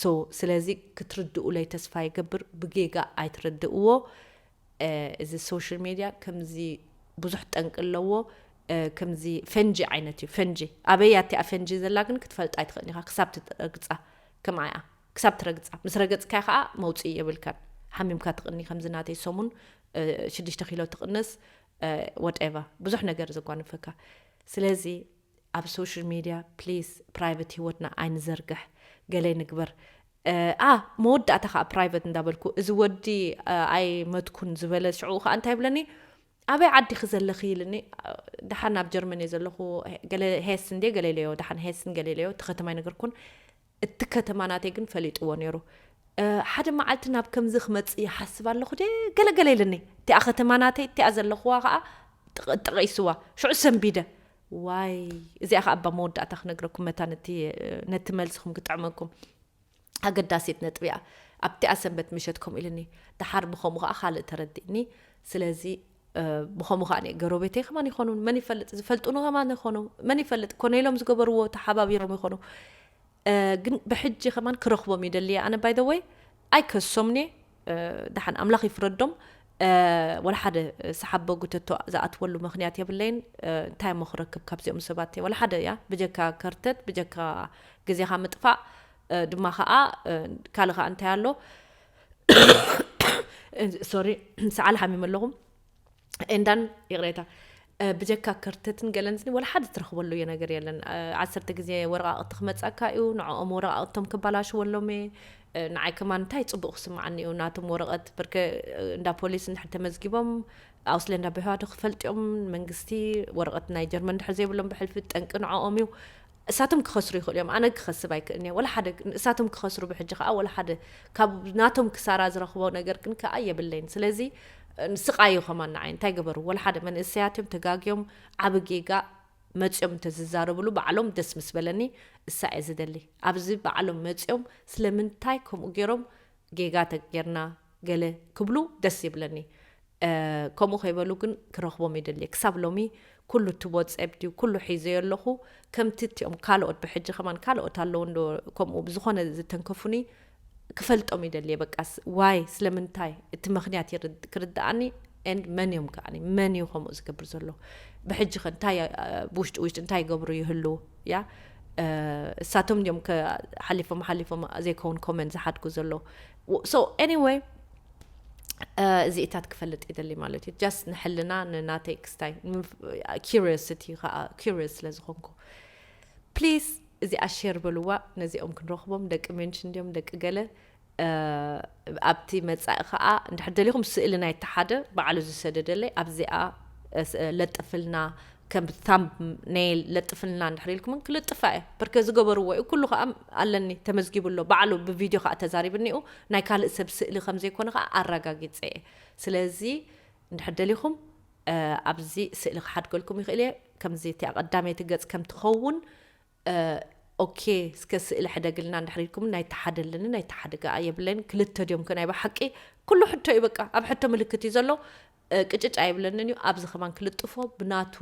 ሶ ስለዚ ክትርድኡለይ ተስፋ ይገብር ብጌጋ ኣይትረድእዎ እዚ ሶሽል ሜድያ ከምዚ ብዙሕ ጠንቂ ኣለዎ ከምዚ ፈንጂ ዓይነት እዩ ፈንጂ ኣበይ ኣቲኣ ፈንጂ ዘላ ግን ክትፈልጣ ኣይትኽእል ኢኻ ክሳብ ትረግፃ ከምኣያ ክሳብ ትረግፃ ምስ ረገፅካያ ከዓ መውፅኢ የብልካን ሓሚምካ ትቕኒ ከምዚ ናተይ ሰሙን ሽዱሽተ ኪሎ ትቕንስ ወደቫ ብዙሕ ነገር ዘጓንፈካ ስለዚ ኣብ ሶሽል ሜድያ ፕሊስ ፕራይቨት ሂወትና ኣይንዘርግሕ ገለ ንግበር ኣ መወዳእታ ከዓ ፕራይቨት እንዳበልኩ እዚ ወዲ ኣይ መትኩን ዝበለ ሽዑ ከዓ እንታይ ይብለኒ ኣበይ ዓዲኺ ዘለኺ ኢልኒ ድሓን ኣብ ጀርመን እየ ዘለኹ ገለ ሄስን ደ ገሌለዮ ድሓን ሄስን ገሌለዮ እቲ ከተማ ይነገርኩን እቲ ከተማ ናተይ ግን ፈሊጥዎ ነይሩ። ሓደ መዓልቲ ናብ ከምዚ ክመጽእ ይሓስብ ኣለኹ ድየ ገለ ገለ ኢሉኒ። እቲኣ ከተማ ናተይ እቲኣ ዘለኹዋ ከኣ ጠቒሱዋ። ሽዑ ሰንቢደ። ዋይ እዚኣ ከኣ እባ መወዳእታ ክነግረኩም መታን እቲ ነቲ መልስኹም ክጥዕመኩም ኣገዳሲት ነጥቢ'ያ። ኣብቲኣ ሰንበት ምሸት ከምኡ ኢሉኒ። ደሓር ብኸምኡ ከኣ ካልእ ተረዲእኒ። ስለዚ ብኸምኡ ከኣ ገሮቤተይ ከማን ይኾኑ መን ይፈልጥ ዝፈልጡኒ ከማን ይኾኑ መን ይፈልጥ ኮነ ኢሎም ዝገበርዎ ተሓባቢሮም ይኾኑ ግን ብሕጂ ከማን ክረኽቦም ይደልየ ኣነ ባይ ዘ ወይ ኣይከሶምኒ ድሓን ኣምላኽ ይፍረዶም ወላ ሓደ ሰሓቦ ጉተቶ ዝኣትወሉ ምክንያት የብለይን እንታይ እሞ ክረክብ ካብዚኦም ሰባት ወላ ሓደ እያ ብጀካ ከርተት ብጀካ ግዜኻ ምጥፋእ ድማ ከዓ ካልእ ከዓ እንታይ ኣሎ ሶሪ ሰዓል ሓሚም ኣለኹ እንዳን ይቕሬታ ብጀካ ክርተትን ገለንስኒ ወላ ሓደ ትረኽበሉ እዮ ነገር የለን ዓሰርተ ግዜ ወረቃቅቲ ክመፀካ እዩ ንዕኦም ወረቃቅቶም ክባላሽወሎም እየ ንዓይ ከማ እንታይ ፅቡቅ ክስምዓኒ እዩ ናቶም ወረቀት ብርከ እንዳ ፖሊስ እንድሕር ተመዝጊቦም ኣውስለ እንዳ ብሕዋዶ ክፈልጥዮም መንግስቲ ወረቀት ናይ ጀርመን ድሕር ዘይብሎም ብሕልፊ ጠንቂ ንዕኦም እዩ እሳቶም ክኸስሩ ይኽእሉ እዮም ኣነ ክኸስብ ኣይክእልንየ ወላ ሓደ እሳቶም ክኸስሩ ብሕጂ ከኣ ወላ ሓደ ካብ ናቶም ክሳራ ዝረኽቦ ነገር ግን ከኣ የብለይን ስለዚ ንስቃዩ ከማን ንዓይ እንታይ ገበሩ ወላ ሓደ መንእሰያት እዮም ተጋግዮም ዓቢ ጌጋ መጽዮም እንተ ዝዛረብሉ ባዕሎም ደስ ምስ በለኒ እሳ እየ ዝደሊ ኣብዚ ባዕሎም መጽዮም ስለምንታይ ከምኡ ጌሮም ጌጋ ተጌርና ገለ ክብሉ ደስ ይብለኒ ከምኡ ከይበሉ ግን ክረክቦም ይደሊ ክሳብ ሎሚ ኩሉ ትቦ ጸብ ድዩ ኩሉ ሒዘዮ ኣለኹ ከምቲ እቲኦም ካልኦት ብሕጂ ከማን ካልኦት ኣለዉ እንዶ ከምኡ ብዝኾነ ዝተንከፉኒ ክፈልጦም ይደልየ በቃ ዋይ ስለምንታይ እቲ ምክንያት ክርድኣኒ ኤንድ መን እዮም ከዓኒ መን እዩ ከምኡ ዝገብር ዘሎ ብሕጂ ከ እንታይ ብውሽጢ ውሽጢ እንታይ ይገብሩ ይህልው ያ እሳቶም እዮም ሓሊፎም ሓሊፎም ዘይከውን ኮመንት ዝሓድጉ ዘሎ ሶ ኤኒወይ እዚኢታት ክፈልጥ ይደሊ ማለት እዩ ጃስት ንሕልና ንናተይ ክስታይ ኪሪዮሲቲ ከዓ ኪሪዮስ ስለ ዝኾንኩ ፕሊዝ እዚኣ ሼር በልዋ ነዚኦም ክንረኽቦም ደቂ ሜንሽን ድዮም ደቂ ገለ ኣብቲ መጻኢ ከኣ እንድሕር ደሊኹም ስእሊ ናይቲ ሓደ ባዕሉ ዝሰደደለይ ኣብዚኣ ለጥፍልና ከም ታምብኔል ለጥፍልና እንድሕር ኢልኩምን ክልጥፋ እየ ብርከ ዝገበርዎ እዩ ኩሉ ከኣ ኣለኒ ተመዝጊቡ ኣሎ ባዕሉ ብቪድዮ ከኣ ተዛሪብኒኡ ናይ ካልእ ሰብ ስእሊ ከም ዘይኮነ ከኣ ኣረጋጊጸ እየ ስለዚ እንድሕር ደሊኹም ኣብዚ ስእሊ ክሓድገልኩም ይኽእል እየ ከምዚ እቲኣ ቀዳመይቲ ገጽ ከም ትኸውን ኦኬ እስከ ስእሊ ሕደግልና እንድሕር ኢልኩምኒ ናይ ተሓደልኒ ናይ ተሓድጋኣ የብለይን ክልተ ድዮም ከ ናይ ብሓቂ ኩሉ ሕቶ እዩ በቃ ኣብ ሕቶ ምልክት እዩ ዘሎ ቅጭጭ ኣይብለንን እዩ ኣብዚ ከማን ክልጥፎ ብናቱ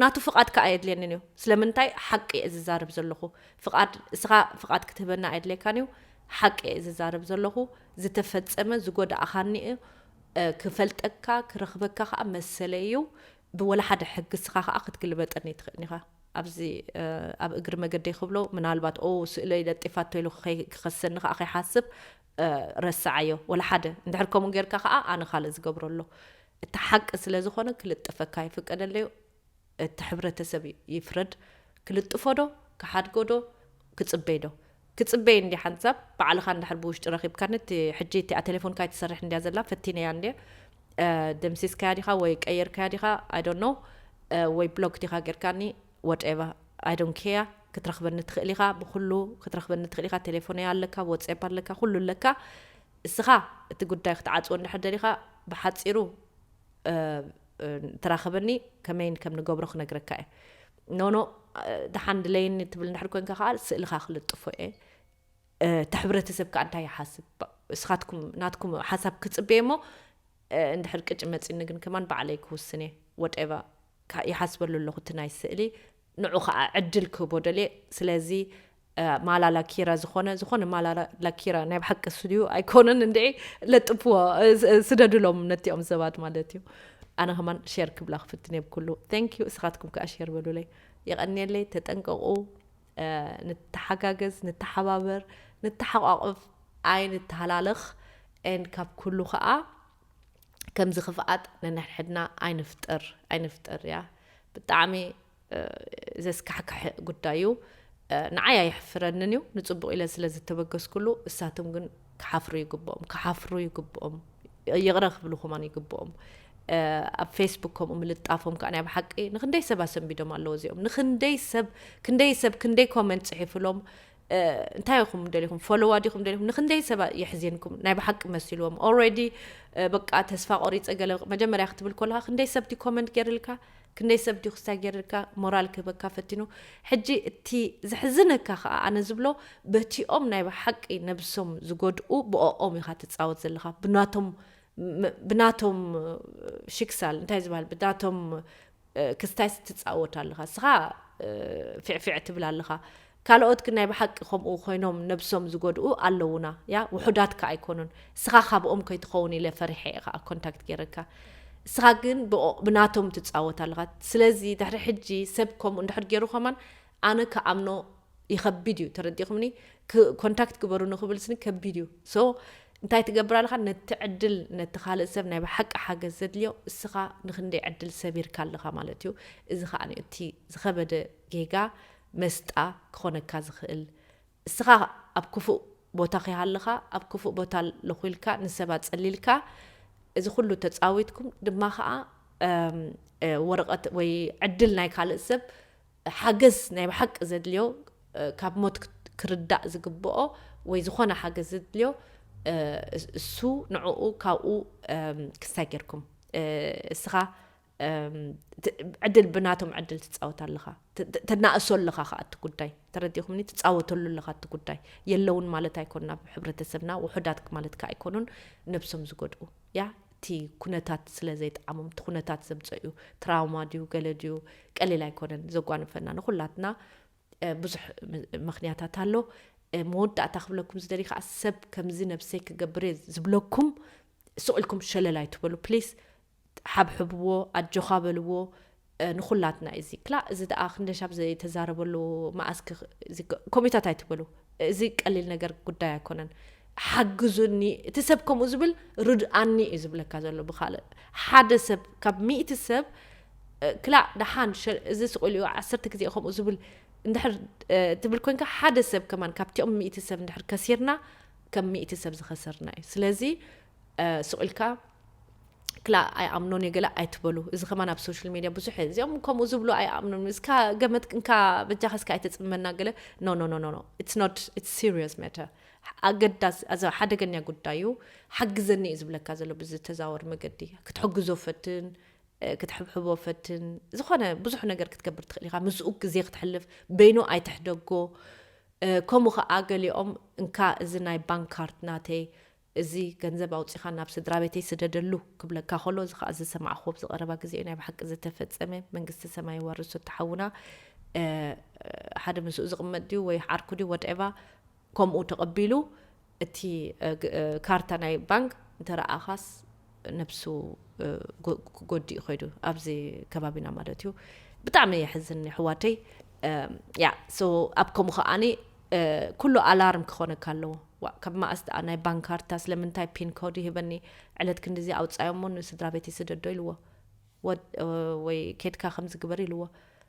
ናቱ ፍቓድ ከዓ የድልየንን እዩ ስለምንታይ ሓቂ እየ ዝዛርብ ዘለኹ ፍቓድ እስኻ ፍቓድ ክትህበና ኣየድልየካን እዩ ሓቂ እየ ዝዛርብ ዘለኹ ዝተፈፀመ ዝጎዳእኻኒ እዩ ክፈልጠካ ክረኽበካ ከዓ መሰለ እዩ ብወላ ሓደ ሕግስኻ ከኣ ክትግልበጠኒ ትኽእል ኢኻ። ኣብዚ ኣብ እግሪ መገደይ ክብሎ ምናልባት ኦው ስእለይ ለጢፋቶ ኢሉ ክኸሰኒ ከኣ ከይሓስብ ረስዓዮ ወላ ሓደ እንድሕር ከምኡ ጌርካ ከኣ ኣነ ካልእ ዝገብሮ ኣሎ እቲ ሓቂ ስለ ዝኾነ ክልጥፈካ ይፍቀደለዩ እቲ ሕብረተሰብ ይፍረድ ክልጥፎ ዶ ክሓድጎ ዶ ክጽበይ ዶ ክጽበይ እንድየ ሓንሳብ ባዕልኻ እንድሕር ብውሽጢ ረኺብካኒ እቲ ሕጂ እቲኣ ቴሌፎንካ ኣይትሰርሕን እንድያ ዘላ ፈቲነያ እንድየ ደምሲስካያ ዲኻ ወይ ቀይርካያ ዲኻ ኣይ ዶንት ኖው ወይ ብሎክ ዲኻ ጌርካኒ ወትኤቨር ኣይ ዶንት ኬር ክትረኽበኒ ትኽእል ኢኻ ብኹሉ ክትረኽበኒ ትኽእል ኢኻ ቴሌፎነይ ኣለካ ወትስኤፕ ኣለካ ኩሉ ኣለካ እስኻ እቲ ጉዳይ ክትዓጽዎ እንድሕር ደሊኻ ብሓጺሩ ተራኸበኒ ከመይን ከም ንገብሮ ክነግረካ እየ ኖኖ ደሓን ድለየኒ ትብል እንድሕር ኮንካ ከኣ ስእልኻ ክልጥፎ እየ እቲ ሕብረተሰብ ከኣ እንታይ ይሓስብ እስኻትኩም ናትኩም ሓሳብ ክጽበየ እሞ እንድሕር ቅጭ መጺኒ ግን ከማን ባዕለይ ክውስን እየ ወጤቫ ይሓስበሉ ኣለኹ እቲ ናይ ስእሊ ንዑ ከኣ ዕድል ክህቦ ደልየ ስለዚ ማላ ላኪረ ዝኾነ ዝኾነ ማላ ላኪረ ናይ ብሓቂ ስድዩ ኣይኮነን እንድዒ ለጥፍዎ ስደድሎም ነቲኦም ሰባት ማለት እዩ ኣነ ከማን ሸር ክብላ ክፍትን እየ ብኩሉ ቴንክ ዩ እስኻትኩም ከዓ ሸር በሉለይ የቐንየለይ ተጠንቀቑ ንተሓጋገዝ ንተሓባበር ንተሓቋቕፍ ኣይንተሃላለኽ ኤን ካብ ኩሉ ከዓ ከምዚ ክፍኣት ነንሕድሕድና ኣይንፍጥር ኣይንፍጥር እያ ብጣዕሚ ዘስካሕክሕ ጉዳይ እዩ። ንዓይ ኣየሕፍረንን እዩ ንፅቡቅ ኢለ ስለ ዝተበገስኩሉ እሳቶም ግን ክሓፍሩ ይግብኦም ክሓፍሩ ይግብኦም ይቕረ ክብሉ ከማን ይግብኦም ኣብ ፌስቡክ ከምኡ ምልጣፎም ከዓ ናይ ብሓቂ ንክንደይ ሰብ ኣሰንቢዶም ኣለዎ እዚኦም ንክንደይ ሰብ ክንደይ ሰብ ክንደይ ኮመንት ፅሒፍሎም እንታይ ኢኹም ደሊኹም ፎሎዋ ዲኹም ደሊኹም ንክንደይ ሰባ የሕዚንኩም ናይ ብሓቂ መሲልዎም ኦልሬዲ በቃ ተስፋ ቆሪፀ ገለ መጀመርያ ክትብል ከለካ ክንደይ ሰብቲ ኮመንት ገይርልካ ክንደይ ሰብ ድዩ ክስታይ ገይርልካ ሞራል ክህበካ ፈቲኑ ሕጂ እቲ ዘሕዝነካ ከዓ ኣነ ዝብሎ በቲኦም ናይ ብሓቂ ነብሶም ዝጎድኡ ብኦኦም ኢኻ ትፃወት ዘለካ ብናቶም ብናቶም ሽክሳል እንታይ ዝበሃል ብናቶም ክስታይስ ትጻወት ኣለኻ እስኻ ፊዕፊዕ ትብል ኣለኻ ካልኦት ግን ናይ ብሓቂ ከምኡ ኮይኖም ነብሶም ዝጎድኡ ኣለውና ያ ውሑዳት ከ ኣይኮኑን እስኻ ካብኦም ከይትኸውን ኢለ ፈሪሐ እየ ከኣ ኮንታክት ገይረካ እስኻ ግን ብናቶም ትጻወት ኣለኻ ስለዚ ድሕሪ ሕጂ ሰብ ከምኡ እንድሕር ገይሩ ከማን ኣነ ክኣምኖ ይኸቢድ እዩ ተረዲኹምኒ ክ ኮንታክት ግበሩኒ ክብል ስኒ ከቢድ እዩ so እንታይ ትገብር ኣለኻ ነቲ ዕድል ነቲ ካልእ ሰብ ናይ ብሓቂ ሓገዝ ዘድልዮ እስኻ ንኽንደይ ዕድል ሰቢርካ ኣለኻ ማለት እዩ እዚ ኸኣ እቲ ዝኸበደ ጌጋ መስጣ ክኾነካ ዝኽእል እስኻ ኣብ ክፉእ ቦታ ኺሃለኻ ኣብ ክፉእ ቦታ ኣለኹ ኢልካ ንሰብ ኣጸሊልካ እዚ ኩሉ ተጻዊትኩም ድማ ኸኣ ወረቐት ወይ ዕድል ናይ ካልእ ሰብ ሓገዝ ናይ ብሓቂ ዘድልዮ ካብ ሞት ክርዳእ ዝግብኦ ወይ ዝኾነ ሓገዝ ዘድልዮ እሱ ንዕኡ ካብኡ ክስታይ ጌርኩም እስኻ ዕድል ብናቶም ዕድል ትፃወት ኣለኻ ተናእሶ ኣለኻ ከዓ እቲ ጉዳይ ተረዲኹምኒ ትፃወተሉ ኣለኻ እቲ ጉዳይ የለውን ማለት ኣይኮን ናብ ሕብረተሰብና ውሑዳት ማለት ከዓ ኣይኮኑን ነብሶም ዝጎድኡ እያ እቲ ኩነታት ስለ ዘይጠዓሞም እቲ ኩነታት ዘምፀእዩ ትራውማ ድዩ ገለ ድዩ ቀሊል ኣይኮነን ዘጓንፈና ንኩላትና ብዙሕ ምክንያታት ኣሎ መወዳእታ ክብለኩም ዝደልዩ ከዓ ሰብ ከምዚ ነብሰይ ክገብር እየ ዝብለኩም ስቕ ኢልኩም ሸለል ኣይትበሉ ፕሊስ ሓብሕብዎ ኣጆኻ በልዎ ንኩላትና እዩ እዚ ክላእ እዚ ደኣ ክንደሻብ ዘይተዛረበሉ መኣስ ኮሜታት ኣይትበሉ እዚ ቀሊል ነገር ጉዳይ ኣይኮነን ሓግዙኒ እቲ ሰብ ከምኡ ዝብል ርድኣኒ እዩ ዝብለካ ዘሎ ብካልእ ሓደ ሰብ ካብ ሚእቲ ሰብ ክላእ ደሓን እዚ ስቁኢሉ እዩ ዓሰርተ ግዜ ከምኡ ዝብል እንድሕር ትብል ኮንካ ሓደ ሰብ ከማን ካብቲኦም ሚእቲ ሰብ እንድሕር ከሲርና ከም ሚእቲ ሰብ ዝኸሰርና እዩ ስለዚ ሱቅ ኢልካ ክላ ኣይኣምኖን እየ ገለ ኣይትበሉ እዚ ከማን ኣብ ሶሻል ሜድያ ብዙሕ እየ እዚኦም ከምኡ ዝብሉ ኣይኣምኖን እስካ ገመት እንካ በጃኻ እስካ ኣይተፅመና ገለ ኖ ኖ ኖ ኖ ኢትስ ኖት ኢትስ ሲሪየስ ማተር ኣገዳስ ኣዛ ሓደገኛ ጉዳይ እዩ ሓግዘኒ እዩ ዝብለካ ዘሎ ብዝተዛወር መገዲ ክትሕግዞ ፈትን ክትሕብሕቦ ፈትን ዝኾነ ብዙሕ ነገር ክትገብር ትኽእል ኢኻ ምስኡ ግዜ ክትሕልፍ በይኑ ኣይትሕደጎ ከምኡ ከዓ ገሊኦም እንካ እዚ ናይ ባንክ ካርድ ናተይ እዚ ገንዘብ ኣውጺኻ ናብ ስድራቤተይ ስደደሉ ክብለካ ኮሎ እዚ ከኣ ዝሰማዕክዎ ኣብዚ ቀረባ ግዜ እዩ ናይ ብሓቂ ዝተፈጸመ መንግስቲ ሰማይ የዋርሶ እቲ ሓውና ሓደ ምስኡ ዝቅመጥ ድዩ ወይ ዓርኩ ድዩ ወድኤቫ ከምኡ ተቀቢሉ እቲ ካርታ ናይ ባንክ እንተረኣኻስ ነብሱ ጎዲኡ ከይዱ ኣብዚ ከባቢና ማለት እዩ ብጣዕሚ የሕዝን የሕዋተይ ያ ሶ ኣብ ከምኡ ከዓኒ ኩሉ ኣላርም ክኾነካ ኣለዎ ዋእ ካብ መኣስ ደኣ ናይ ባንክ ካርታ ስለምንታይ ፒን ኮድ ይህበኒ ዕለት ክንዲዚ ኣውፃዮሞ ንስድራ ቤት ይስደዶ ኢልዎ ወይ ኬድካ ከምዚ ግበር ኢልዎ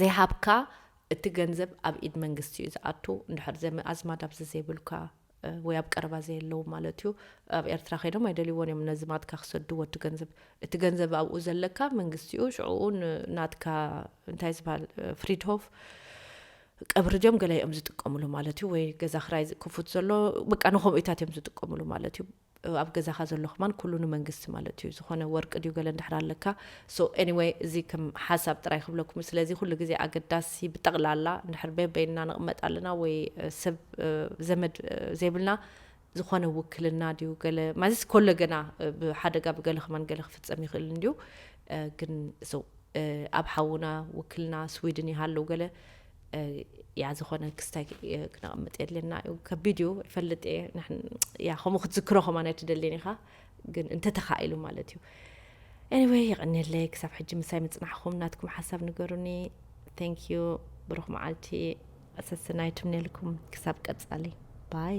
ዘይሃብካ እቲ ገንዘብ ኣብ ኢድ መንግስቲ እዩ ዝኣቱ እንድሕር ዘመ ኣዝማድ ኣብዚ ዘይብልካ ወይ ኣብ ቀረባ ዘየለዉ ማለት እዩ ኣብ ኤርትራ ከይዶም ኣይደልይዎን እዮም ነዝማትካ ክሰድዎ እቲ ገንዘብ እቲ ገንዘብ ኣብኡ ዘለካ መንግስቲ እዩ ሽዕኡ ናትካ እንታይ ዝበሃል ፍሪድሆፍ ቀብሪ ድዮም ገለ እዮም ዝጥቀምሉ ማለት እዩ ወይ ገዛ ክራይ ክፉት ዘሎ በቃ ንከምኡታት እዮም ዝጥቀምሉ ማለት እዩ ኣብ ገዛኻ ዘሎ ከማን ኩሉ ንመንግስቲ ማለት እዩ ዝኾነ ወርቂ ድዩ ገለ እንድሕር ኣለካ so anyway እዚ ከም ሓሳብ ጥራይ ክብለኩም እዩ ስለዚ ኩሉ ግዜ ኣገዳሲ ብጠቕላላ እንድሕር በበይንና ንቕመጥ ኣለና ወይ ሰብ ዘመድ ዘይብልና ዝኾነ ውክልና ድዩ ገለ ማለትስ ኮሎ ገና ብሓደጋ ብገለ ከማን ገለ ክፍጸም ይኽእል እንድዩ ግን so ኣብ ሓውና ውክልና ስዊድን ይሃለው ገለ እያ ዝኾነ ክስታይ ክነቐምጥ የድልየና እዩ ከቢድ እዩ ይፈልጥ እየ እያ ከምኡ ክትዝክሮ ከማን ኣይትደልየን ኢኻ ግን እንተተኻኢሉ ማለት እዩ ኤኒወይ የቐኒየለይ ክሳብ ሕጂ ምሳይ ምፅናሕኹም ናትኩም ሓሳብ ንገሩኒ ቴንክ ዩ ብሩኽ መዓልቲ ሰስናይ ትምነልኩም ክሳብ ቀፃሊ ባይ